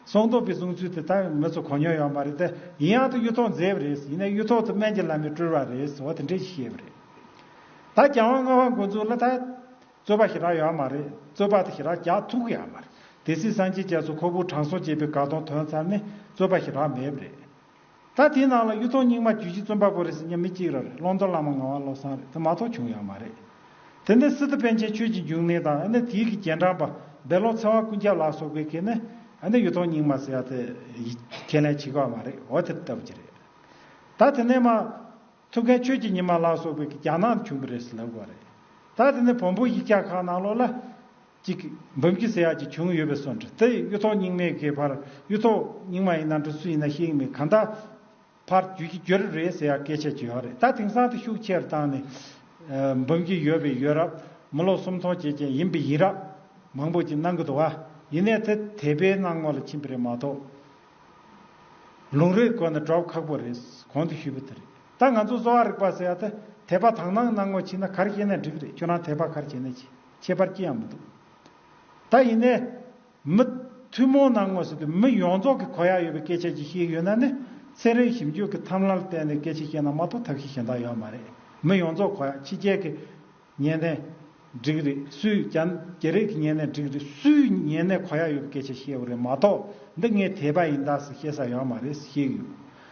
ཚོང་དོགས་པའི་གསུང་ཚུལ་དེ་དག་མི་ཚོ་གོ་མྱོང་ཡོད་མ་རེད་དེ། ཡིན་ཡང་དུ་གཡུ་ཐོག་མཛེས་པ་རེད། ཡིན་ནའི་གཡུ་ཐོག་ཏུ་སྨན་གྱི་བླ་མས་བཀྲུར་བ་རེད་ཟེར་བ་དེ་འདྲས་ཤིག་ཤེས་པ་རེད། ད་རྒྱང་བ་རྔ་བ་འགོ་འཛུགས་སླ་ད། རྩོད་པ་ཞེ་དྲག་ཡོད་མ་རེད། རྩོད་པ་དེ་ཞེ་དྲག་རྒྱག་ཐུག་གི་ཡོད་མ་རེད་དེ། སྲིད་བཟང་ཁྱེད་ཅག་ཚོ་ཁོ་བོའི་དྲང་སྲོང་ཅེས་པའི་དགའ་སྟོང་དོན་ཚར་ནས་རྩོད་པ་ཞེ་དྲག་མེད་པ་རེད། ད་དེའི་ནང་ལ་གཡུ་ཐོག་རྙིང་མ་རྒྱུད་བཞི་བཙོན་པ་པོ་རེད་ཟེར་མཉམ་མི་གཅིག་རར་ཀློང་རྡོལ་བླ་མ་ངག་དབང་བློ་བཟང་རེད་དེ་མ་གཏོགས་བྱུང་ཡག་མ་རེད། དེ་འདི་སི་ཏུ་པན་ཆེན་ཆོས་ཀྱི་འབྱུང་གནས་དང་ཨ་ནེ་དྷིའི་གི་རྒྱན་དྲངས་པ་སྦེ་ལོག་ཚེ་དབང་ཀུན་ཁྱབ་ལགས་སོགས་པའི་གི་ནི་ཨ་ནེ་གཡུ་ཐོག་རྙིང་མ་ཟེར་ཡག་དེ་ཁས་ལེན་བྱེད་གི་བ་མ་རེད་འོ་དེ་ལྟ་བུ་ཅི་རེད། ད་དེ་ནས་མ་ཐུབ་མཁན་ཆོས་ཀྱི་ཉི་མ་ལགས་སོགས་པའི་གི་རྒྱ་ནག་ནས་བྱུང་གི་རེད་ཟེར་ལབ་གི་བ་རེད། ད་དེ་ནས་བོན་པོ་ཡིག་བཀྱག་ཁག་ནང་ལོགས་ལ། ཅིག། འབུམ་གྱི་ཟེ་ཡག་ཅིག་བྱུང་ཡོད་པའི་སོ་འདྲ་སྟེ་གཡུ་ཐོག་རྙིང་མའི་གས་ཕར་གཡུ་ཐོག་རྙིང་མ་ཡིན་ན་འགྲོ་སུ་ཡིན་ན་ཤེས་མེད་གང་དག་ཕར་རྒྱུད་ཀྱི་རྒྱུད་རབས་རེའི་ཟེ་ཡག་སྐད་ཆ་བརྗོད་ཡག་རེད་ད་དེང་སང་དུ་ཤུགས་ཆེར་བཏང་ནས། འབུམ་གྱི་ཡོད་པའི་ཡོད་རབས་མི་ལོ་སུམ་སྟོང་བྱེད་ཅན་ཡིན་པའི་ཡིན་རབས་མང་པོ་ཅིག་གནང་གི་འདུག་ཨ་ཡིན་ནས་དེ་དད་པའི་སྣང་ངོ་ལ་ཕྱིན་པ་རེད་མ་གཏོགས། ལུང་རིགས་གོ་ནས་སྒྲོག་ཁག་པོ་རེད་གོང་དུ་ཞུས་པ་དེ་རེད་ད་ང་ཚོ་གསོ་བ་རིག་པ་ཟེ་ཡག་དེ་དད་པ་དང་སྣང་ངོ་ཕྱིན་ན་གར་བྱེད་ནས་འགྲིག་རེད་ཁྱོད་རང་དད་པ་གར་བྱེད་ནས་བྱེད། ཁྱད་པར་ཅི་ཡང་མི་འདུག། ད་ཡིན་ནའི། མི། ཐུན་མོང་ནང་ངོས་ཟིན་པའི་མི་ཡོངས་རྫོགས་ཀྱི་གོ་ཡ་ཡོད་པའི་སྐད་ཆ་ཅིག་བཤད་ཀྱི་ཡོད་ན་ནི། ཚན་རིག་ཞིབ་འཇུག་གི་ཐམས་ལན་ལ་བརྟེན་ནས་སྐད་ཆ་བཤད་ན་མ་གཏོགས་ཐབས་ཤེས་གཞན་དག་ཡོད་མ་རེད། མི་ཡོངས་རྫོགས་གོ་ཡ་ཕྱི་རྒྱལ་གྱི། ཉན་ནས། འགྲིག་རེད་སུས་རྒྱ། རྒྱ་རིགས་ཀྱི་ཉན་ནས་འགྲིག་རེད་སུས་ཉན་ནས་གོ་ཡ་ཡོད་པའི་སྐད་ཆ་བཤད་འོ་རེད་མ་གཏོགས་འདི་ངས་དེས་པ་ཡིན་དཱ་ཟེར་བཤད་ས་ཡོད་མ་རེད་ཟེར་བཤད་ཀྱི་ཡོད།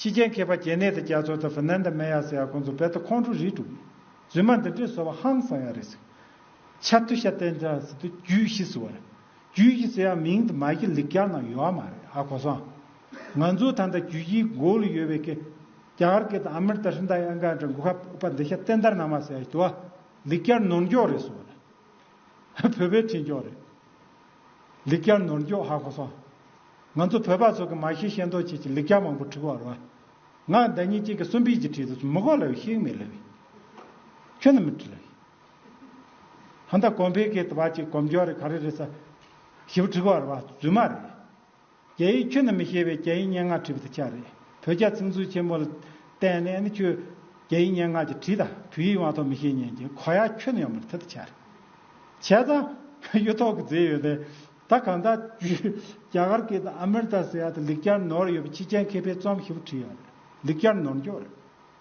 ཕྱི་རྒྱལ་མཁས་པ་གྱེས་ནད་དེ་རྒྱ་ཚོ་དང་ཧྥི་ནན་དང་མེ་ཡ་ཟེར་ཡ་ཁོང་ཚོ་བལ་དུ་ཁོང་ཁྲོ་རིས་དྲུག་ཡིན། རྫུན་མ་འདི་འདྲས་བཟོ་བ་ཧང་སང་ཡ་རེད་ཟིག། ཆ་ཏུ་ཤ་བསྟན་ཅང་ཟི་ཏུ་རྒྱུད་བཞི་ཟེར་བ་རེད། རྒྱུད་བཞི་ཟེར་ཡང་མིང་དུ་མ་གི་ལིག་རྒྱ་ནང་ཡོད་ཨ་མ་རེད་ཨ་གོ་སང། ང་ཚོ་ད་ལྟ་རྒྱུད་བཞིའི་མགོ་ལ་ཡོད་བའི་ཀི། རྒྱ་གར་ཀི་དང་ཨ་མེར་ཏ་ཧྲི་འདའ་ཡ་འགའ་འདྲ་མགོ་ཁ་ཨུ་པ་འདི་ཤ་བསྟན་དར་ནང་མ་ཟེར་ཡ་ཞི་ཏུ་ཨ། ལིག་རྒྱར་ནོར་མགྱོགས་རེད་ཟེར་བ་རེད། བོད་པའི་ཁྲིད་མགྱོགས་རེད། ལེགས་སྐྱར་ནོར་འགྱོག་ཧ་གོ་སོང། ང་ཚོ་བོད་པ་ཚོ་གི་མ་ཤེས་ཤེས་མདོག་བྱེད་ཀྱི་ལེགས་སྐྱར་མང་པོ་འཁྲུག་བར་བ། ང་ཟླ་གཉིས་གཅིག་གི་གསུམ་པིས་ཀྱི་བྲིས་དུ་མི་གོ་ལ་བའི་ཤིག་མེད་ལ་བའི། ཁྱོད་ནི་མི་བྲི་ལ་བའི། ཧ་མདའ་གོམ་བེ་གེ་ཏི་བ་གཅིག་གོམ་འགྱོག་རེ་ག་རེ་རེ་ས། ཞིབ་བྲི་གོ་བར་བ་རྫུན་མ་རེད། རྒྱ་ཡིག་ཁྱོད་ནི་མི་ཤེས་པས་རྒྱ་ཡིག་སྙན་ངག་བྲིས་པ་དེ་ཆགས་རེད་བོད་རྒྱ་ཚིག་མཛོད་ཆེན་མོ་ལ་བལྟས་ནས་ནི་ཁྱོད་རྒྱ་ཡིག་སྙན་ངག་ཅིག་བྲིས་ད་བོད་ཡིག་དབང་ཐོག་མི་ཤེས་ཉན་གྱི་གོ་ཡ་ཁྱོད་ནི་ཡོད་མ་རེད་ད་ཆགས་རེད་བྱས་ཙང་གཡུ་ཐོག་གི་རྫས་ཡོད་རེད་ད་གང་ད་བརྒྱུད་རྒྱ་གར་གྱི་དང་ཨ་མེར་ད་སི་ཡ་ད་ལིག་བསྐྱར་ནོར་ཡོད་པ་ཕྱི་རྒྱལ་མཁས་པའི་རྩོམ་ཧི་བོ་བྲིས་ཡོད་རེད་ལིག་བསྐྱར་ནོར་མགྱོགས་རེད།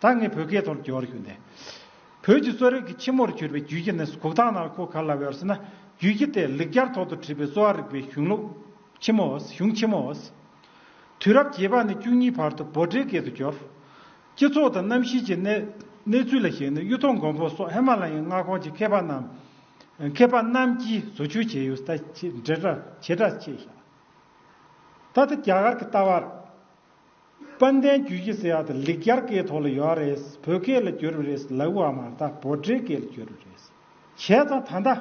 ད་ངས་བོད་སྐད་ཐོག་བསྒྱུར་རྒྱུ་འདི། བོད་ཀྱི་གསོ་རིག་གི་ཕྱི་མོར་གྱུར་པའི་རྒྱུད་ཀྱི་གནས་སུ་གུག་ཐང་ནར་ཁོ་ག་ལ་བའི་ཟེར་ན་རྒྱུད་ཀྱི་དེ་ལེགས་སྦྱར་ཐོག་ཏུ་བྲིས་པའི་གསོ་བ་རིག་པའི་གཞུང་ལུགས་ཕྱི་མོ། གཞུང་ཕྱི་མོ། དུས་རབས་བརྒྱད་པ་ནས་བཅུ་གཉིས་བར་དུ་བོད་འབྲེལ་སྐད་དུ་བསྒྱུར། སྤྱི་ཚོགས་དང་གནམ་གཤིས་ཀྱི་གནས་ཚུལ་ལ་གཞིགས་ནས་གཡུ་ཐོག་མགོན་པོ་སོགས་ཧེ་མ་ལ་ཡའི་མངའ་ཁོངས་ཀྱི་མཁས་པ་རྣམས་ཀྱིས་བཟོ་བཅོས་བྱས་ཡོད། ད་ལྟ་རྒྱ་གར་གྱི་ལྟ་བ་རེད། དཔལ་ལྡན་རྒྱུད་ཀྱི་སེ་ཡ་དང་ལིག་ཀྱར་ཀའི་ཐོག་ལ་ཡོད་རེད་བོད་སྐད་ལ་བསྒྱུར་བ་རེད་ལ་དབུ་བ་མ་ད་བོད་འབྲེལ་སྐད་ལ་བསྒྱུར་བ་རེད་བྱས་ཙང་ད་ལྟ་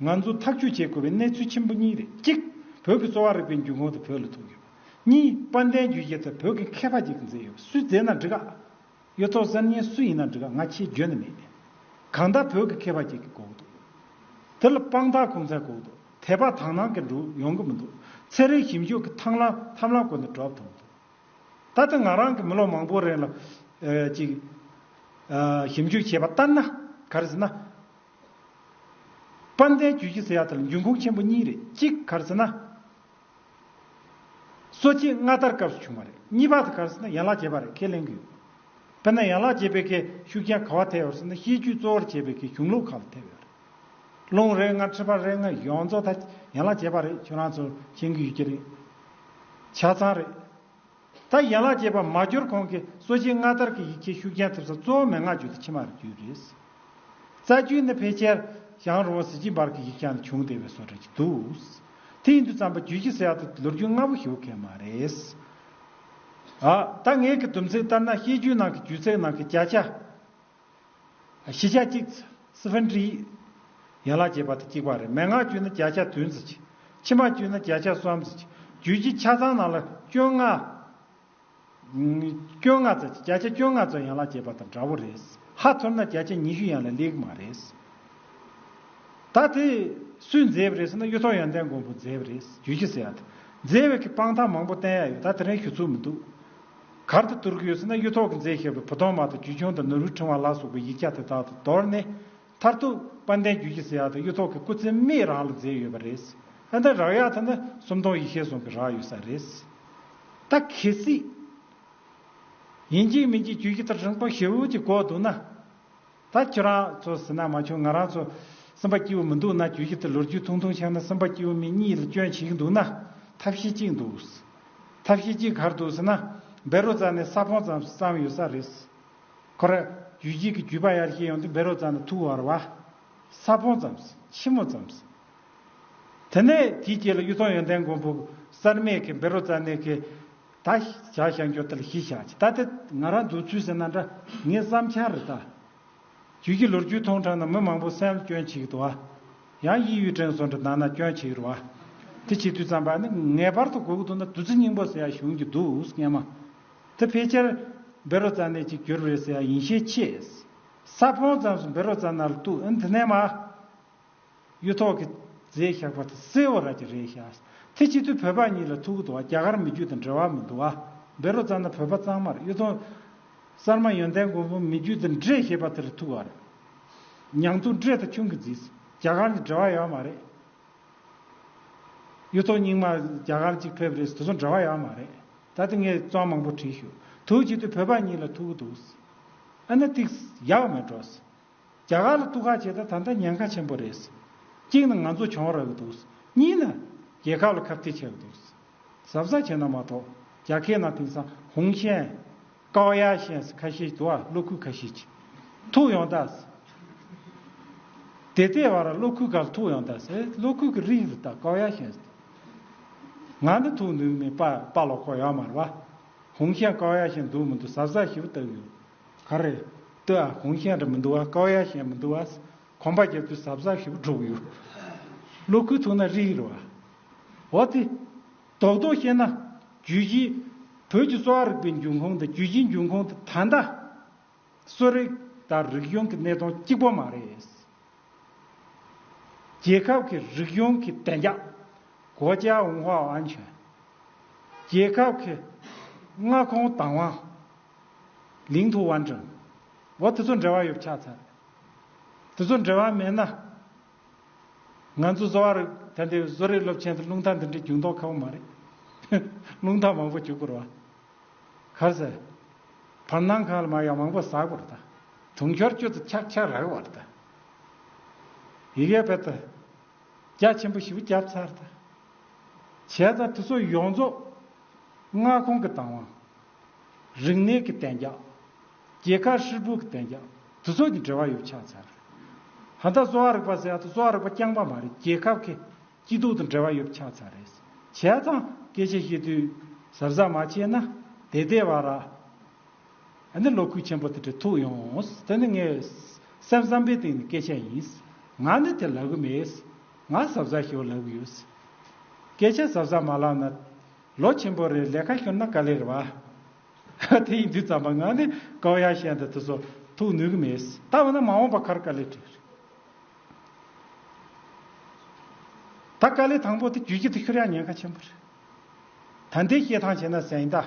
ང་ཚོ་ཐག་གཅོད་བྱེད་དགོས་པའི་གནས་ཚུལ་ཆེན་པོ་གཉིས་རེད་གཅིག་བོད་ཀྱི་གསོ་བ་རིག་པའི་འཇུག་ངོགས་དེ་བོད་ལ་ཐུག་ཡོད་པ་གཉིས་དཔལ་ལྡན་རྒྱུད་ཀྱི་ད་བོད་ཀྱི་མཁས་པ་གཅིག་གིས་མཛད་ཡོད་པ་སུས་མཛད་ན་འགྲིག་ཨ། གཡུ་ཐོག་གསར་རྙིང་སུ་ཡིན་ན་འགྲིག་ག་ང་ཁྱེད་འགྱོད་ནི་མེད། གང་ལྟར་བོད་ཀྱི་མཁས་པ་ཁྱེད་ཀྱི་གོ་གི་འདུག། དེ་ལ་དཔང་རྟགས་གོང་ཚད་གོ་གི་འདུག་དད་པ་དག་སྣང་གི་འགྲོ་ཡོང་གི་མི་འདུག་ཚེ་རིང་ཞིབ་འཇུག་གི་ཐང་ལ་ཐམ་ལམ་གོ་ནི་གྲོབ་ཐུབ་མི་འདུག། ད་ལྟ་ང་རང་གི་མི་ལོ་མང་པོ་རིང་ལ་ཅིག། ཞིབ་འཇུག་བྱས་པ་ལྟར་ན་ག་རེ་ཟེར་ན། དཔལ་ལྡན་རྒྱུད་བཞི་ཟེར་ཡ་དེ་ལ་འབྱུང་ཁུངས་ཆེན་པོ་གཉིས་རེད་གཅིག་ག་རེ་ཟེར་ན། གསོ་བྱེད་སྔ་དར་སྐབས་སུ་བྱུང་བ་རེད་གཉིས་པ་དེ་གར་སོང་ན་ཡན་ལག་བརྒྱད་པ་རེད་ཁས་ལེན་གྱི་ཡོད། དཔེར་ན་ཡན་ལག་བརྒྱད་པའི་ཁའི་ཤུགས་རྐྱེན་ག་བ་ཐེབས་ཡོད་སོང་ན་ཤེས་རྒྱུད་གཙོ་བོར་བྱས་པའི་ཁའི་གཞུང་ལུགས་ཁག་ལ་ཐེབས་ཡོད་རེད། རླུང་རེ་ལྔ་འཁྲིད་པ་རེ་ལྔ་ཡོངས་རྫོགས་ད་ཡན་ལག་བརྒྱད་པ་རེད་ཁྱོད་རང་ཚོར་མཁྱེན་གྱི་ཡོད་ཀྱི་རེད། ཆ་ཚང་རེད། ད་ཡན་ལག་བརྒྱད་པ་མ་འབྱོར་གོང་གི་གསོ་བྱེད་སྔ་དར་གྱི་ཡིག་ཆའི་ཤུགས་རྐྱེན་ཐེབས་ས་གཙོ་བོ་མན་ངག་རྒྱུད་དང་ཕྱི་མ་རྒྱུད་རེད། རྩ་རྒྱུད་ནི་ཕལ་ཆེར་ཞང་རོང་བ་ཟི་ཅིང་བར་གྱི་ཡིག་ཆ་ནས་བྱུང་བསྡད་པའི་བཟོ་གྲྭ་གྱི་འདུག། དེ་ཡིན་དུས་རྩམ་པ་རྒྱུད་ཀྱི་གསལ་ཐོ་དེ་ལོ་རྒྱུས་སྔ་བོ་ཞིག་ཡོད་མཁན་མ་རེད། ད་ངས་ཀྱི་སྡོམ་ཚིག་ལྟར་ན་བཤད་རྒྱུད་ནང་གི་རྒྱུད་ཚེག་ནང་གི་བརྒྱ་ཆ། བཞི་ཆ་གཅིག། སི་ཧྥན་ཀྲི། ཡན་ལག་བརྒྱད་པ་དང་གཅིག་པ་རེད། མན་ངག་བཅུ་ནི་བརྒྱ་ཆ་དོན་ཟིག། ཕྱི་མ་བཅུ་ནི་བརྒྱ་ཆ་གསུམ་ཟིག། རྒྱུད་ཀྱི་ཆ་ཚང་ནང་ལ་སྐྱོན་ལྔ། སྐྱོན་ལྔ་ཙམ་ཟིག་བརྒྱ་ཆ་སྐྱོན་ལྔ་ཙམ་ཡན་ལག་བརྒྱད་པ་དང་འདྲ་བོ་རེད། ཧ་ཐོར་ན་བརྒྱ་ཆ་ཉི་ཤུ་ཡན་ལ་ལེགས་མ་རེད། ད་དེ་སུས་མཛད་པ་རེད་ཟེར་ན་གཡུ་ཐོག་ཡོན་ཏན་མགོན་པོ་མཛད་པ་རེད། རྒྱུད་ཀྱི་ཟེར་ཡ་དང། མཛད་པའི་གི་དཔང་རྟགས་མང་པོ་བསྟན་ཡ་ཡོད་ད་དེ་རིང་ཞུ་ཚུལ་མི་འདུག། གར་དུ་བསྡུར་གྱི་ཡོད་ཚེ་ན་གཡུ་ཐོག་གི་མཛེས་ཞེས་པའི་བུ་སྟོང་མ་དང་རྒྱུད་ཆུང་དང་ནོར་བུའི་ཕྲེང་བ་ལ་སོགས་པའི་ཡིག་བརྒྱ་དེ་དག་ཏུ་མདོར་ནི། མཐར་ཐུག་དཔལ་ལྡན་རྒྱུད་ཀྱི་སྲི་ཡག་དང་གཡུ་ཐོག་གི་སྐུ་ཚེ་མིག་རང་ལ་མཛེས་ཡོད་པ་རེད། ཨ་འདི་རག་ཡག་དེ་ནི་སུམ་སྟོང་ཡིག་ཤེས་ཟུང་གི་རག་ཡོད་ས་རེད། ད་གལ་སྲིད། ཡིན་གྱི་མིན་གྱི་རྒྱུད་ཀྱི་ཐག་རིང་པོ་ཞེ་འུར་གྱིས་འགོག་འདུག་ན། ད་ཁྱོད་རང་ཚོ་ཟིན་ན་མ་བྱུང་ང་རང་ཚོ་སེམས་པ་སྐྱིད་བོ་མི་འདུག་ན་དུས་ཤིག་ཏུ་ལོ་རྒྱུས་ཐུང་ཐུང་ཆགས་ན་སེམས་པ་སྐྱིད་བོ་མི་གཉིས་ལ་སྐྱོན་བྱེད་ཀྱི་འདུག་ན་ཐབས་ཤེས་གཅིག་འདུག་ཐབས་ཤེས་གཅིག་གར་འདུག་ཟེར་ན་སྦེ་རོ་ཙཱ་ནས་ས་ཕོང་ཙམ་བསམ་ཡོད་ས་རེད། ཁོ་ར་ཇུས་གཅིག་གི་གུས་པ་ཡར་ཤེས་ཡོང་དུས་སྦེ་རོ་ཙཱ་ནས་ཐུགས་བར་བ། ས་ཕོང་ཙམ། ཕྱི་མོ་ཙམ། དེ་ནས་དེའི་རྗེས་ལ་གཡུ་ཐོག་ཡོན་ཏན་མགོན་པོ་གསར་མས་ཁེ་སྦེ་རོ་ཙཱ་ནས་ཁེ། ད་བཞག་བཞག་འགྱོ་ལྟར་གཞི་བཞག་ཅིག་ད་དེ་ང་རང་འདུག་ཚུལ་ཟེར་ན་འདྲ་ངས་བསམ་འཆར་རེ་བཏགས། རྒྱུས་ཀྱི་ལོ་རྒྱུས་མཐོང་དྲགས་ན་མི་མང་པོ་སེམས་སྐྱོན་བྱེད་ཀྱི་འདུག་ཨ། ཡང་དབྱིན་ཡུལ་དྲན་གསོ་འདྲ་གདང་ན་སྐྱོན་བྱེད་ཀྱི་རུ་ཨ། དེ་བྱེད་དུས་བརྩམས་པ་ནི་ངེས་པར་དུ་དགོས་ཀྱི་འདུག་ན་བདུད་རྩི་སྙིང་པོ་ཟེར་ཡ་བྱུང་གྱི་འདུག་སྙན་མ། དེ་ཕལ་ཆེར་བེ་རོ་ཙཱ་ནས་ཅིག་གྱུར་རེད་ཟེར་ཡ་ཡིན་ཤས་ཆེ། ས་ཕོང་ཙམ་སུ་བེ་རོ་ཙཱ་ནར་གཏུགས་ཨེ་འདི་ནས་མ། གཡུ་ཐོག་གི་རྫས་བཞག་པ་དང་སེ་བ་ར་གྱི་རས་བཞག་ཚེ་སྤྱི་འཐུས་བོད་པ་གཉིས་ལ་ཐུག་གི་འདུག་བ་རྒྱ་གར་མི་རྒྱུད་དང་འབྲེལ་བ་མི་འདུག་བ་བེ་རོ་ཙང་དང་བོད་པ་གཙང་མར་གཡུ་ཐོག། གསར་མ་ཡོན་ཏན་མགོན་པོ་མི་རྒྱུད་དང་འདྲེས་ཞེས་པ་དེར་ཐུག་བར། ཉང་ཐུང་འདྲེས་དང་ཁྱུང་གི་རྫིས་རྒྱ་གར་གྱི་འབྲེལ་བ་ཡོད་མ་རེད། གཡུ་ཐོག་རྙིང་མ་རྒྱ་གར་གཅིག་ཕེབས་རེས་དེ་ཚོ་འབྲེལ་བ་ཡོད་མ་རེད་ད་དེ་ངས་གཙང་མང་པོ་བྲིས་ཞུ་དུག་སྤྱི་འཐུས་བོད་པ་གཉིས་ལ་ཐུག་གི་འདུག། ཨ་ན་ཏིགས་ཡག་མེད་འགྲོ། རྒྱ་གར་ལ་གཏུག་ཁ་བྱེད་ད་ད་ལྟ་ཉེན་ཁ་ཆེན་པོ་རེད། གཅིག་ནི་ང་ཚོ་བྱུང་རག་གི་འདུག་གཉིས་ནི་རྒྱལ་ཁབ་ལ་ཁབ་ཐིག་བྱས་གི་འདུག་ཟབ་ས་བྱས་ན་མ་གཏོགས་རྒྱ་ཁའི་ནང་དེང་སང་ཧུང་ཤན། ཀའོ་ཡ་ཤན་ཟེར་ཁ་ཤས་དུ་བ་གློག་ཁུལ་ཁ་ཤས་ཀྱི་ཐུག་ཡོང་ད་ཟེར། དེ་ལྟའི་བར་གློག་ཁུལ་ག་ལ་ཐུག་ཡོང་ད་ཟེར་གློག་ཁུལ་གི་རིགས་རེད་ད་ཀའོ་ཡ་ཤན་ཟེར། ང་འདི་ཐུག་འདུག་ནས་པ་པ་ལོག་ཁོག་ཡོད་མ་རེད་བ། ཧུང་ཤན་ཀའོ་ཡ་ཤན་འདུག་མི་འདུག་ཟབ་ས་ཞིབ་བལྟ་གི་ཡོད། ག་རེ། ཏི་ཨ་གོང་གཞན་རེ་མི་འདུག་ཨ་ཀའོ་ཡ་གཞན་མི་འདུག་ཨ། གོམ་པ་རྒྱབ་དུས་ཟབ་ཟབ་ཞིག་པོ་འཁྲུག་ཡོད། གློག་ཁུག་ཐུག་ན་རིག་ཡོད། འོ་དེ། རྡོག་རྡོག་བཤད་ན། རྒྱུད་བཞི། བོད་ཀྱི་གསོ་བ་རིག་པའི་འབྱུང་ཁུངས་དང་རྒྱུད་བཞིའི་འབྱུང་ཁུངས་དེ་ད་ལྟ། གསོ་རིག་དང་རིག་གཞུང་གི་གནད་དོན་གཅིག་པོ་མ་རེད། རྒྱལ་ཁབ་ཀྱི་རིག་གཞུང་གི་བདེ་འཇགས། གོ་ཅའ་ཝུན་ཧྭ་ཨན་ཆོན། རྒྱལ་ཁབ་ཀྱི་མངའ་ཁོངས་དང་བ། ལིང་ཐུ་བ་འདྲ། འོ་དེ་ཚོ་འབྲེལ་བ་ཡོད་ཆགས་ཚར། དེ་ཚོ་འབྲེལ་བ་མེད་ན། ང་ཚོ་བཟོ་བ་རུ་ད་འདི་བཟོ་རིག་སློབ་ཆེན་དུ་རླུང་རྟ་འདི་འདྲའི་རྒྱུགས་མདོག་ཁ་བོ་མ་རེད། རླུང་རྟ་མང་པོ་རྒྱུགས་དགོས་ར་བ། གར་ཟེར། བར་སྣང་ཁང་ལ་མ་ཡང་མང་པོ་ཟགས་དགོས་ར་ད། དུང་ཤོར་སྐྱོ་དུ་ཆག་ཆག་ར་བ་ར་ད། ཡི་གེ་བེད་ད། རྒྱ་ཆེན་པོ་ཞི་བུ་བརྒྱབ་ཚར་ད། བྱས་ཙང་དེ་ཚོ་ཡོངས་རྫོགས། མངའ་ཁོང་གི་དང་བ། རིག་གནས་ཀྱི་གཏན་འཇགས། རྒྱལ་ཁ་ཧྲིལ་པོའི་གཏན་འཇགས་དུ་ཚོགས་ཀྱི་འབྲེལ་བ་ཡོད་ཆགས་ཚར་རེད། ཧ་ད་གཙོ་བ་རིག་པ་ཟེར་ཡག་ཏུ་གཙོ་བ་རིག་པ་རྐྱང་པ་མ་རེད་རྒྱལ་ཁབ་ཁེ་སྐྱིད་སྡུག་དང་འབྲེལ་བ་ཡོད་ཆགས་ཚར་རེད། བྱས་ཙང་སྐད་ཆ་བཤད་དུས་གཟབ་གཟབ་མ་བྱས་ན་དེ་ལྟའི་བར་ར་ཨ་ནི་ལོ་ཁུག་ཆེན་པོ་དེ་འདྲ་ཐུག་ཡོང། དེ་ནི་ངའི་སེམས་བསམ་པའི་སྟེང་ནས་སྐད་ཆ་ཡིན། ང་ནི་དེ་ལབ་གི་མེད། ང་གཟབ་གཟབ་ཞོར་ལབ་གི་ཡོད། སྐད་ཆ་གཟབ་གཟབ་མ་ལབ་ན། ལོ་ཆེན་པོ་རེར་ལས་ཀ་ཤོར་ན་ག་ལེར་བ། དེ་ཡིན་དུས་རྩམ་པ་ངང་ནས་ཀའོ་ཡ་ཤན་དང་དུ་སོ་ཐུག་ནུས་ཀྱི་མེད། ད་འོ་ན་མ་འོངས་པ་ཁར་ཀ་ལེ་བྲིས། ད་ཀ་ལེ་དང་པོ་དེ་བརྒྱུད་ཀྱི་དུ་ཤོར་ཡང་ཉེན་ཁ་ཆེན་པོ་རེད། ད་འདི་བཤད་ཐང་བྱས་ན་ཟན་གདའ།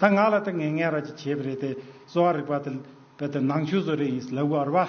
ད་ང་ལ་དེ་ངན་ངན་ར་ཅིག་བྱས་པ་རེད་དེ་གསོ་བ་རིག་པ་དེ་ལ་བལ་དེ་ནང་ཆོས་བཟོ་རེ་ཡིན་སི་ལ་བུ་ཨར་བ།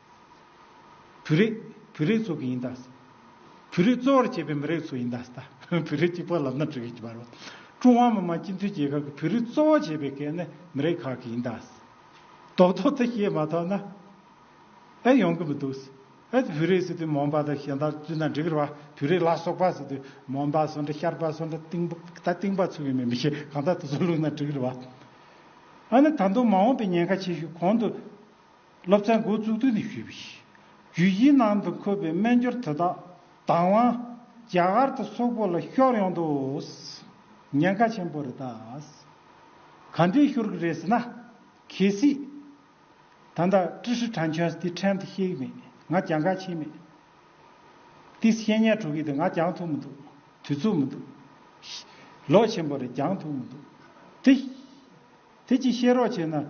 བུ་རེད། བུ་རེད་ཚོ་གི་ཡིན་ད། བུ་རེད་གཙོ་བོར་བྱས་པའི་མི་རེད་ཚོ་ཡིན་ད་ཟད། བུ་རེད་གཅིག་པོ་ལབ་ན་འགྲིག་གི་མ་རེད། ཀྲུང་ཧྭ་མི་དམངས་སྤྱི་མཐུན་རྒྱལ་ཁབ་ཀྱི་བུ་རེད་གཙོ་བོར་བྱས་པའི་གལ་གནད་མི་རེད་ཁག་གི་ཡིན་ད་ཟད། རྡོག་རྡོག་ཚོ་བཤད་མ་ཐོག་ན་ཨེ་ཡོང་གི་མི་འདུག་ཟེར། ཨེ་ཙི་བུ་རེད་ཟེར་དུས་མོ་འབའ་དང་གཞན་དག་བཙུད་ན་འགྲིག་གི་རེད་བ། བུ་རེད་ལ་སོགས་པ་ཟེར་དུས་མོ་འབའ་སོང་འདྲ་ཤར་པ་སོང་འདྲ་ཏིང་ད་ཏིང་པ་ཚུགས་ཡོད་མེད་མི་ཤེས་གང་ལྟར་དེ་ཚོ་བླུགས་ན་འགྲིག་གི་རེད་བ། ཨ་ནི་ད་དུང་མ་འོངས་པའི་ཉེན་ཁ་ཆེ་ཤོས་གོང་དུ། སློབ་ཚན་འགོ་བཙུགས་དུས་ནས་ཞུས་པ་ཞིག་བརྒྱུད་སྤྱིའི་ནང་དུ་འཁོད་པའི་སྨན་སྦྱོར་དེ་དག་དང་བ་རྒྱ་གར་དུ་སོག་པོ་ལ་ཤོར་ཡོང་དུས་ཉེན་ཁ་ཆེན་པོ་རེད་ད། ག་འདྲའི་ཤོར་གི་རེད་ཟེར་ན། གལ་སྲིད། ད་ལྟ་ཀྲི་ཧྲི་ཁྲ་མཆོག་དེ་ཕྲན་དུ་ཤེས་ཀྱི་མེད་ང་རྒྱང་ཁ་ཕྱེས་མེད། དེས་བཤད་ཉན་གྲོགས་ཀྱི་དེ་ང་རྒྱང་ཐུག་མི་འདུག་དུས་ཚོད་མི་འདུག། ལོ་ཆེན་པོ་རེད་རྒྱང་ཐུག་མི་འདུག་དེ། དེ་ཅིག་བཤད་རོགས་བྱས་ན།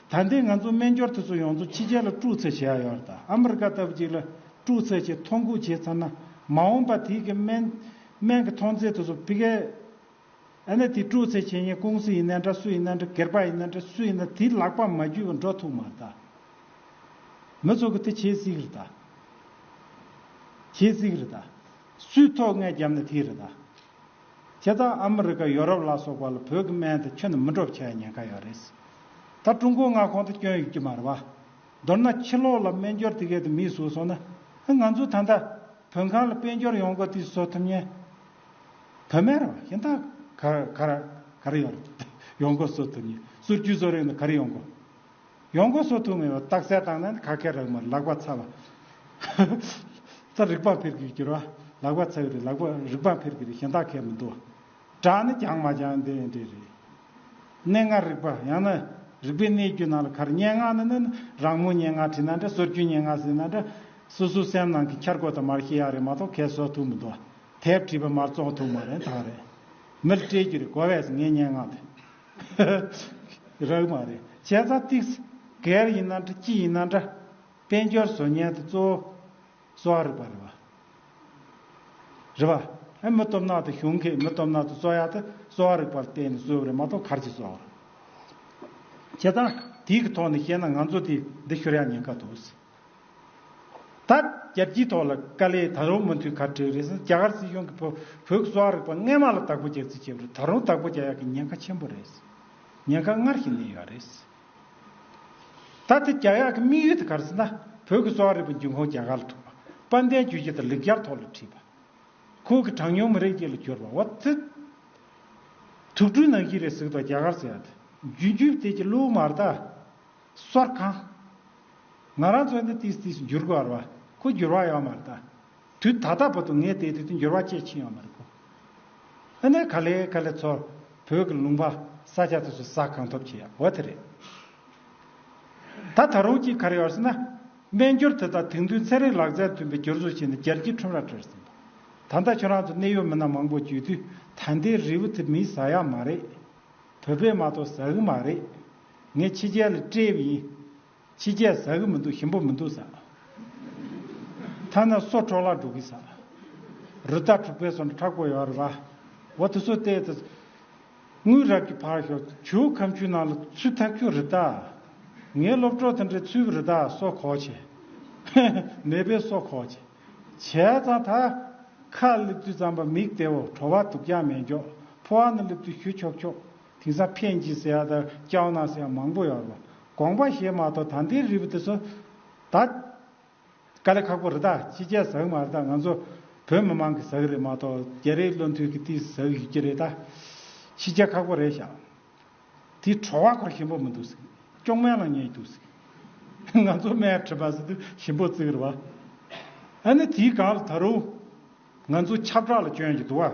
ད་ལྟའི་ང་ཚོ་སྨན་སྦྱོར་དེ་ཚོ་ཡོངས་རྫོགས་ཕྱི་རྒྱལ་ལ་སྤྲུག་ཚད་བྱས་ཡོད་རེད་ད་ཨ་མི་རི་ཀ་ལྟ་བུ་ཅིག་ལ་སྤྲུག་ཚད་ཅིག་ཐོ་འགོད་བྱས་ཚར་ན་མ་འོངས་པ་དེ་གི་སྨན་སྨན་གི་ཐོངས་ཚད་དེ་ཚོ་ཕི་གས་ཨ་ན་དེ་སྤྲུག་ཚད་བྱེད་མཁན་ཀུང་སི་ཡིན་ན་འདྲ་སུ་ཡིན་ན་འདྲ་སྒེར་པ་ཡིན་ན་འདྲ་སུ་ཡིན་ན་དེ་ལག་པ་མ་རྒྱུས་པ་འགྲོ་ཐུག་མ་རེད་ད། མི་ཚོ་གི་དེ་བྱེད་སྲིད་གི་རེད་ད། བྱེད་སྲིད་གི་རེད་ད། སུས་ཐོག་ངས་རྒྱབ་ན་དེ་རེད་ད། བྱས་ཙང་ཨ་མི་རི་ཀ་ཡོ་རོབ་ལ་སོགས་པ་ལ་བོད་ཀྱི་སྨན་དེ་ཁྱོན་ནས་མི་འགྲོ་བ་ཆགས་ཡ་ཉན་ཁ་ཡོད་རེད། ད་ཀྲུང་གོའི་མངའ་ཁོངས་དུ་སྐྱོན་ཡོད་ཀྱི་མ་རེད་བ། མདོར་ན་ཕྱི་ལོགས་ལ་སྨན་སྦྱོར་དེ་གས་དེ་མིས་བཟོས་སོང་ན་ཨ་ང་ཚོས་ད་ལྟ་བོད་ཁང་ལ་དཔལ་འབྱོར་ཡོང་སྒོ་དེ་བཟོ་ཐུབ་ཉན། བོད་སྨན་རེད་བ་ཞིན་ད་ག་ར་ག་ར་ཡོང་ཡོང་སྒོ་བཟོ་ཐུབ་ཉན་གསུར་རྒྱུས་བཟོ་རིང་ད་ག་རེ་ཡོང་སྒོ། ཡོང་སྒོ་གསོ་ཐུབ་མེད་པར་རྟགས་གསལ་བཏང་ན་ནི་ཁ་ཁད་རག་མར་ལག་པ་ཚ་བ། རྩར་རིག་པ་འཕེར་གི་གྱུར་བ། ལག་པ་ཚ་བའི་རིགས་ལག་པ་རིག་པ་འཕེར་གི་རིགས་གཞན་དག་ཁད་མི་འདུག། བྲག་ནི་རྒྱང་མ་རྒྱང་དེ་ཡང་འདྲེས་རེད། གནས་ལྔར་རིག་པ་ཡང་ན་རིག་པའི་གནས་རྒྱུ་ནང་ལ་གར་སྙན་ངག་ནི་ནི་ནི་རང་མོས་སྙན་ངག་བྲིས་ན་འདྲ་སོར་རྒྱུན་སྙན་ངག་ཟིན་ན་འདྲ། སོ་སོའི་སེམས་ནང་གི་འཁྱར་སྒོ་དང་མར་ཤེས་ཡག་རེད་མ་གཏོགས་ཁད་གསོ་ཐུབ་མི་འདུག་དེབ་བྲིས་པ་མར་བཙོང་ཐུབ་མ་རེད་དག་རེད། མིར་སྤྲད་རྒྱུ་རེད་གོ་བས་སུ་ངའི་སྙན་ངག་དེ། རག་མ་རེད་བྱས་ཙང་ཏིག། གལ་ཡིན་ན་འདྲ་ཅི་ཡིན་ན་འདྲ། དཔལ་འབྱོར་བཟོ་ཉལ་དུ་གཙོ་བོ་གཙོ་བ་རིག་པ་རེད་བ། རེད་བ། ཨེ་མི་སྟོབས་ནག་དུ་གཞུང་གིས་མི་སྟོབས་ནག་དུ་གཙོ་ཡག་དུ་གཙོ་བ་རིག་པར་བལྟས་ནས་གསོལ་བ་རེད་མ་གཏོགས་གར་གྱིས་གསོལ་བ་རེད། བྱས་ཙང་ཏིག་གི་ཐོག་ནས་བཤད་ན་ང་ཚོ་དེ་འདི་ཤོར་ཡག་ཉེན་ཁ་འདུག། ད། རྒྱལ་སྤྱིའི་ཐོག་ལ་དཀའ་ལས་ད་རུང་མུ་མཐུད་གར་བྲེལ་རེད་སྲིད་རྒྱ་གར་སྲིད་གཞུང་གིས་བོད་ཀྱི་གསོ་བ་རིག་པ་རྔན་མ་ལ་བདག་པོ་རྒྱག་རྩིས་བྱས་པ་རེད་ད་རུང་བདག་པོ་རྒྱག་ཡག་གི་ཉེན་ཁ་ཆེན་པོ་རེད་སྲིད་ཉེན་ཁ་སྔར་བཞིན་གནས་ཡོད་རེད་སྲིད། ད་དེ་རྒྱག་ཡག་གི་དམིགས་ཡུལ་དེ་གར་སྲིད་ན་བོད་ཀྱི་གསོ་བ་རིག་པ་འབྱུང་ཁུངས་རྒྱ་གར་ལ་ཐུག་པ་དཔལ་ལྡན་རྒྱུད་བཞི་དང་ལེགས་སྦྱར་ཐོག་ལ་བྲིས་པ། ཁོང་གི་གྲངས་ཉུང་མི་རིགས་གཅིག་ལ་གྱུར་པ་འོ་ཙི། དུག་སྦྲུལ་ནང་བཞིན་རེད་གཟིགས་དང་རྒྱ་གར་ཟེར་བ་དེ་རྒྱུན་རྒྱུན་བལྟས་ཀྱི་བླུག་མར་ད། སོར་གང། ང་རང་ཚོ་ནི་དུས་དུས་སུ་འགྱུར་དགོས་ར་བ་ཁོ་འགྱུར་བ་ཡོད་མ་རེད་ད། དུས་ད་ལྟ་བོ་དུ་ངས་དེ་དུས་དུས་འགྱུར་བ་སྐྱེད་ཕྱིན་ཡོད་མ་རེད་ཁོ། ཨ་ནེ་ག་ལེ་ག་ལེ་ཚོར་བོད་ཀྱི་ལུང་པ་ས་སྐྱ་དུས་སུ་ཟ་གང་ཐུབ་བྱས་ཡོད་དེ་རེད། ད་ད་རུང་ཅིག་ག་རེ་ཡོད་ཟེར་ན། སྨན་འགྱུར་དེ་དང་དེང་དུས་ཚན་རིག་ལག་རྩལ་མཐུན་པའི་འགྱུར་ཟོ་བྱས་ནས་རྒྱལ་སྤྱིའི་ཁྲོམ་རར་སྤྲོད་ཟིན་པ། ད་ལྟ་ཁྱོད་རང་ཚོ་གནད་ཡོད་མི་སྣ་མང་པོ་བརྒྱུད་དུས་ད་ལྟའི་རིལ་བུ་དེ་མིས་ཟ་ཡག་མ་རེད། བོད་པས་མ་གཏོགས་ཟ་གི་མ་རེད། ངས་ཕྱི་རྒྱལ་ལ་བཀྲེས་པ་ཡིན། ཕྱི་རྒྱལ་ཟ་གི་མི་འདུག་ཞིམ་པོ་མི་འདུག་ཟ། ཐ་ན་སོ་འཕྲོག་ལག་འགྲོ་གི་ཟ། རུ་རྟ་འཁྲུག་པའི་སོ་འདྲ་ཁྲག་པོ་ཡོད་རེད་པ། འོ་དེ་སོ་བལྟས་ད། དངུལ་རབ་ཀྱི་ཕར་ཞོག་ཆུའུ་ཁམ་ཆུའི་ནང་ལ་ཚུད་ཐག་ཆོད་རུ་རྟ། ངའི་སློབ་གྲོགས་དེ་འདྲས་ཚུད་པའི་རུ་རྟ་སོ་གོག་བྱས། མེད་པའི་སོ་གོག་བྱས། བྱས་ཙང་ད། ཁ་སླེབས་དུས་རྩམ་པ་མིག་དེའོ་བྲོ་བ་དུག་ཀྱང་མེད་མགྱོགས་ཕོ་བ་ནི་སླེབས་དུས་ཞུ་ཆོག་ཆོག། དེང་སང་ཕན་གྱི་ཟེར་ཡག་དང་སྐྱག་ནག་ཟེར་ཡག་མང་པོ་ཡོད། དགོངས་པ་བཞེས་མ་གཏོགས་ད་འདིའི་རིལ་བུ་དེ་ཚོ་ད། དཀའ་ལས་ཁག་པོ་རེད་ད་ཕྱི་རྒྱལ་ཟ་གི་མ་རེད་ད་ང་ཚོ་བོད་མི་མང་གིས་ཟ་གི་རེད་མ་གཏོགས་རྒྱ་རིགས་བློ་མཐུན་གི་ཏིས་ཟ་གི་ཡོད་ཀྱི་རེད་ད། ཕྱི་རྒྱལ་ཁག་པོ་རེད་ཞག་དེ་ཁྲོ་བ་འཁོར་ཞིམ་པོ་མི་འདུག་ཟིག་སྐྱོང་སྨན་ལ་ཉེས་འདུག་ཟིག། ང་ཚོ་སྨན་ཁྲི་པ་ཟེར་དུས་ཞིམ་པོ་བརྩི་གི་རེད་བ། ཨ་ནི་དེའི་སྒང་ལ་ད་རུང་ང་ཚོ་ཁྱབ་བསྒྲགས་ལ་བསྐྱོན་གྱི་འདུག་བ།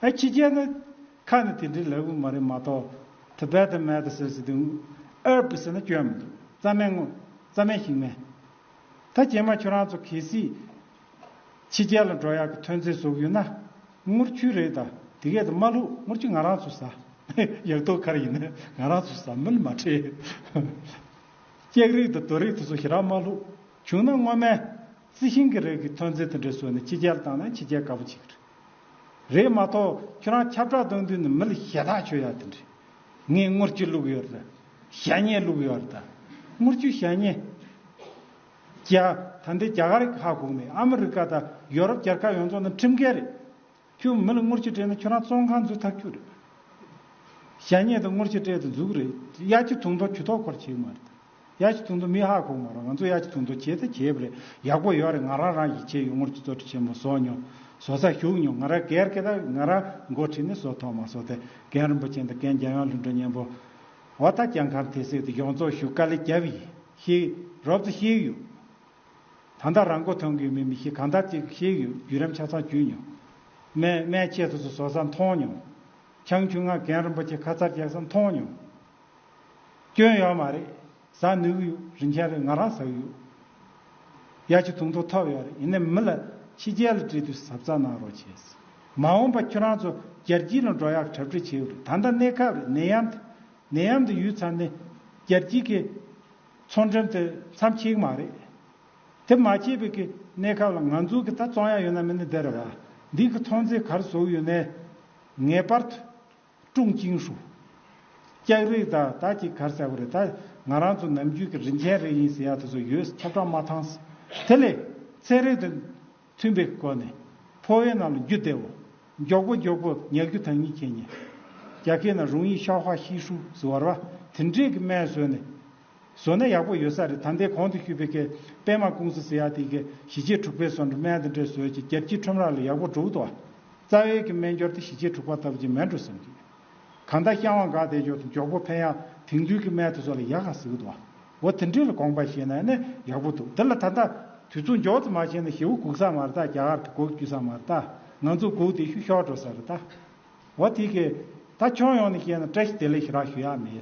ཨ་ཕྱི་རྒྱལ་ནི། ཁ་ནི་དེ་འདྲའི་ལེགས་པོ་མ་རེད་མ་གཏོགས། Tibetan Medicine ཟེར་དུས། Herb ཟེར་ན་སྐྱོན་མི་འདུག་རྩ་སྨན་ངོ། རྩ་སྨན་ཞིག་མེད། ད་རྗེས་མ་ཁྱོད་རང་ཚོ་གལ་སྲིད། ཕྱི་རྒྱལ་ལ་འགྲོ་ཡག་གི་ཐོན་རྫས་ཟོག་ཡོད་ན། ངུར་ཆུ་རེད་ད་དེ་གས་ད་མ་ལུག་ངུར་ཆུ་ང་རང་ཚོ་ཟ། ཡག་ཏོག་ཁར་ཡིན་ན་ང་རང་ཚོ་ཟ་མི་ལ་མ་ཁྲེལ། ཀེག་རིགས་དང་དོ་རིགས་དེ་ཚོ་ཞི་རག་མ་ལུག་བྱུང་ན་སྔོན་མས། རྩི་ཤིང་གི་རིགས་ཀྱི་ཐོན་རྫས་དེ་འདྲ་ཟོས་ནས་ཕྱི་རྒྱལ་ལ་བཏང་ན་ཕྱི་རྒྱལ་དགའ་པོ་བྱེད་ཀྱི་རེད། རེད་མ་གཏོགས་ཁྱོད་རང་ཁྱབ་བསྒྲགས་གཏོང་དུས་ནི་མི་ལ་ཞེ་ཐག་ཆོད་ཡག་དེ་འདྲས། ངས་དངུལ་ཅི་བླུགས་ཡོད་རེད། ཞྭ་སྙེ་བླུགས་ཡོད་རེད། དངུལ་ཆུ་ཞྭ་སྙེ། རྒྱ། ད་འདི་རྒྱ་གར་ཧ་གོ་མེད་ཨ་མི་རི་ཀ་དང་ཡོ་རོབ་རྒྱལ་ཁབ་ཡོངས་རྫོགས་འདི་ཁྲིམས་འགལ་རེད། ཁྱོད་མི་ལ་དངུལ་ཆུ་སྤྲད་ན་ཁྱོད་རང་བཙོན་ཁང་འཛུལ་ཐག་ཆོད་རེད། ཞྭ་སྙེ་དང་དངུལ་ཆུ་སྤྲད་དུ་འཛུགས་རེད་གཡག་ཆུ་དུང་མདོག་གྱུ་ཐོག་འཁོར་བྱེད་ཡོད་མ་རེད། ཡག་ཅིག་ཐུག་འདུག་མི་ཧ་གོ་མ་རུང་ང་ཚོ་ཡག་ཅིག་ཐུག་འདུག་བྱས་ད་བྱས་པ་རེད་ཡག་པོ་ཡོད་རེད་ང་རང་རང་གཞིས་བྱེས་ཡུལ་ངོར་གྱི་བཙོ་བཀྲི་ཆེན་མོ་བཟོ་མྱོང་བཟོ་ས་ཞུགས་མྱོང་ང་རང་གལ་སྐད་དང་ང་རང་མགོ་ཁྲིད་ནས་བཟོ་ཐོག་མ་བཟོ་དེ་རྒན་རིན་པོ་ཆེ་དང་རྒན་རྒྱལ་ཡོངས་གླིང་སྒྲུང་སྙན་པོ་བ་ད་ཀྱང་གར་དེ་སྲིད་དུ་ཡོངས་རྫོགས་བཞུགས་དཀའ་ལས་རྒྱབ་ཡིན་ཤིག་རོབ་ཙེ་ཤིག་ཡོད་ད་ད་རང་མགོ་ཐོན་གི་ཡོད་མེད་མི་ཤེས་གང་ད་ཅིག་ཤིག་ཡོད་བརྒྱུད་རིམ་ཆ་ཚང་བརྒྱུད་མྱོང། སྨད་སྨད་ཆས་སོ་སོ་བཟོ་ས་མཐོང་མྱོང། ཆང་ཆུང་ང་རྒན་རིན་པོ་ཆེ་ཁ་ཚར་རྒྱག་ས་མཐོང་མྱོང། སྐྱོན་ཡོད་མ་རེད་ཟ་ནུས་ཀྱི་ཡོད་རིན་ཆེན་རེད་ང་རང་ཟ་གི་ཡོད་ཡ་ཁྱི་དུང་དུང་ཐོབ་ཡོད་རེད་ཡིན་ནའི་མི་ལ་ཕྱི་རྒྱལ་ལ་བཀྲིས་དུས་ཟབ་རྩ་གནང་རོགས་བྱས་ཟེར་མ་འོངས་པ་ཁྱོད་རང་ཚོ་རྒྱལ་སྤྱིའི་ནང་འགྲོ་ཡག་གྲབ་གྲིས་བྱས་ཡོད་རེད་ད་ལྟ་གནས་ཁབ་རེད་ནད་ཡམས་དེ་ནད་ཡམས་དེ་ཡོད་ཚར་ནས་རྒྱལ་སྤྱིའི་ཁེ་ཚོང་འགྲེམས་དེ་མཚམས་ཆིག་མ་རེད་དེ་མ་ཆིག་པའི་ཁེ་གནས་ཁབ་ལ་ང་ཚོ་གི་ད་བཙོང་ཡག་ཡོད་ན་མི་ནི་འདི་རེད་བ་འདི་གི་མཐོང་ཚེ་གར་ཟོག་ཡོད་ནའི་ངེས་པར་དུ། ཀྲུང་ཅིང་ཧྲུའུ། ལྕགས་རི་ད་ད་ཅིག་གར་ཟེར་བ་རེད་ད། ང་རང་ཚོ་ནམ་རྒྱུན་གྱི་རིན་ཆེན་རེ་ཡིན་ཟེར་ཡག་དེ་ཚོ་ཡོད་ས་ཁྱབ་བསྒྲགས་མ་ཐང། དེ་ལས། ཚན་རིག་དང། མཐུན་པའི་སྒོ་ནས། ཕོ་བའི་ནང་ལ་རྒྱུ་བདེ་བོ། མགྱོགས་པོ་མགྱོགས་པོ་ཉལ་རྒྱུ་དང་གཉིས་ཁེ་ཉེ། རྒྱ་སྐད་ན་རུང་ཡིག་ཤའོ་ཧ་ཤིས་ཧྲུའུ་ཟེར་བ་ར་བ་དེ་འདྲས་ཀྱི་སྨན་ཟོས་ནས། བཟོ་ན་ཡག་པོ་ཡོད་ས་རེད་ད་འདས་གོང་དུ་ཤུད་པའི་ཀེ་པེ་མ་ཀུང་སི་ཟེར་ཡག་དེ་གི་ཞི་ཆེ་དྲུག་པའི་ཟོ་འདྲུ་སྨན་དང་འདྲེས་ཟོས་ཀྱི་རྒྱལ་སྤྱིའི་ཁྲོམ་ར་ལ་ཡག་པོ་འགྲོ་འུ་ཏོ་ཨ། རྩ་བའི་གི་སྨན་སྦྱོར་དེ་ཞི་ཆེ་དྲུག་པ་ལྟ་བུ་ཅིག་མེད་འགྲོ་བསམ་གི། གང་ལྟ་ཤ་བང་ག་དེ་སྦྱོར་དུ་མགྱོགས་པོ་ཕན་ཡག་དེང་དུས་གི་སྨན་དེ་ཟོ་ལ་ཡག་ག་ཟེར་གི་འདུག་ཨ། འོ་དེ་འདྲས་ལ་དགོངས་པ་བཞེས་ན་ནི་ཡག་པོ་འདུག་འདི་ལ་ད་ལྟ་དུས་ཚོད་མགྱོགས་ཙམ་མ་བྱས་ན་ཞེ་བོ་སྒུག་ས་མ་རེད་ད་རྒྱ་གར་གི་སྒོ་བརྒྱུད་ས་མ་རེད་ད་ང་ཚོ་སྒུག་དེ་ཤུ་ཤོག་འགྲོ་ས་རེད་ད། འོ་དེ་གི། ད་ཁྱོན་ཡོངས་ནས་བཤད་ན་བཀྲ་ཤིས་བདེ་ལེགས་ཞུ་རག་ཞུ་ཡག་མེད།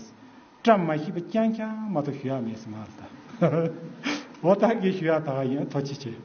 བཀྲ་མ་ཤིས་པ་རྐྱང་རྐྱང་མ་གཏོགས་ཞུ་ཡག་མེད་སེམས་ཨཱ་ད། འོ་ད་གིས་ཞུ་ཡག་ད་ག་ཡིན་ཐོ་ཅི་བྱེད།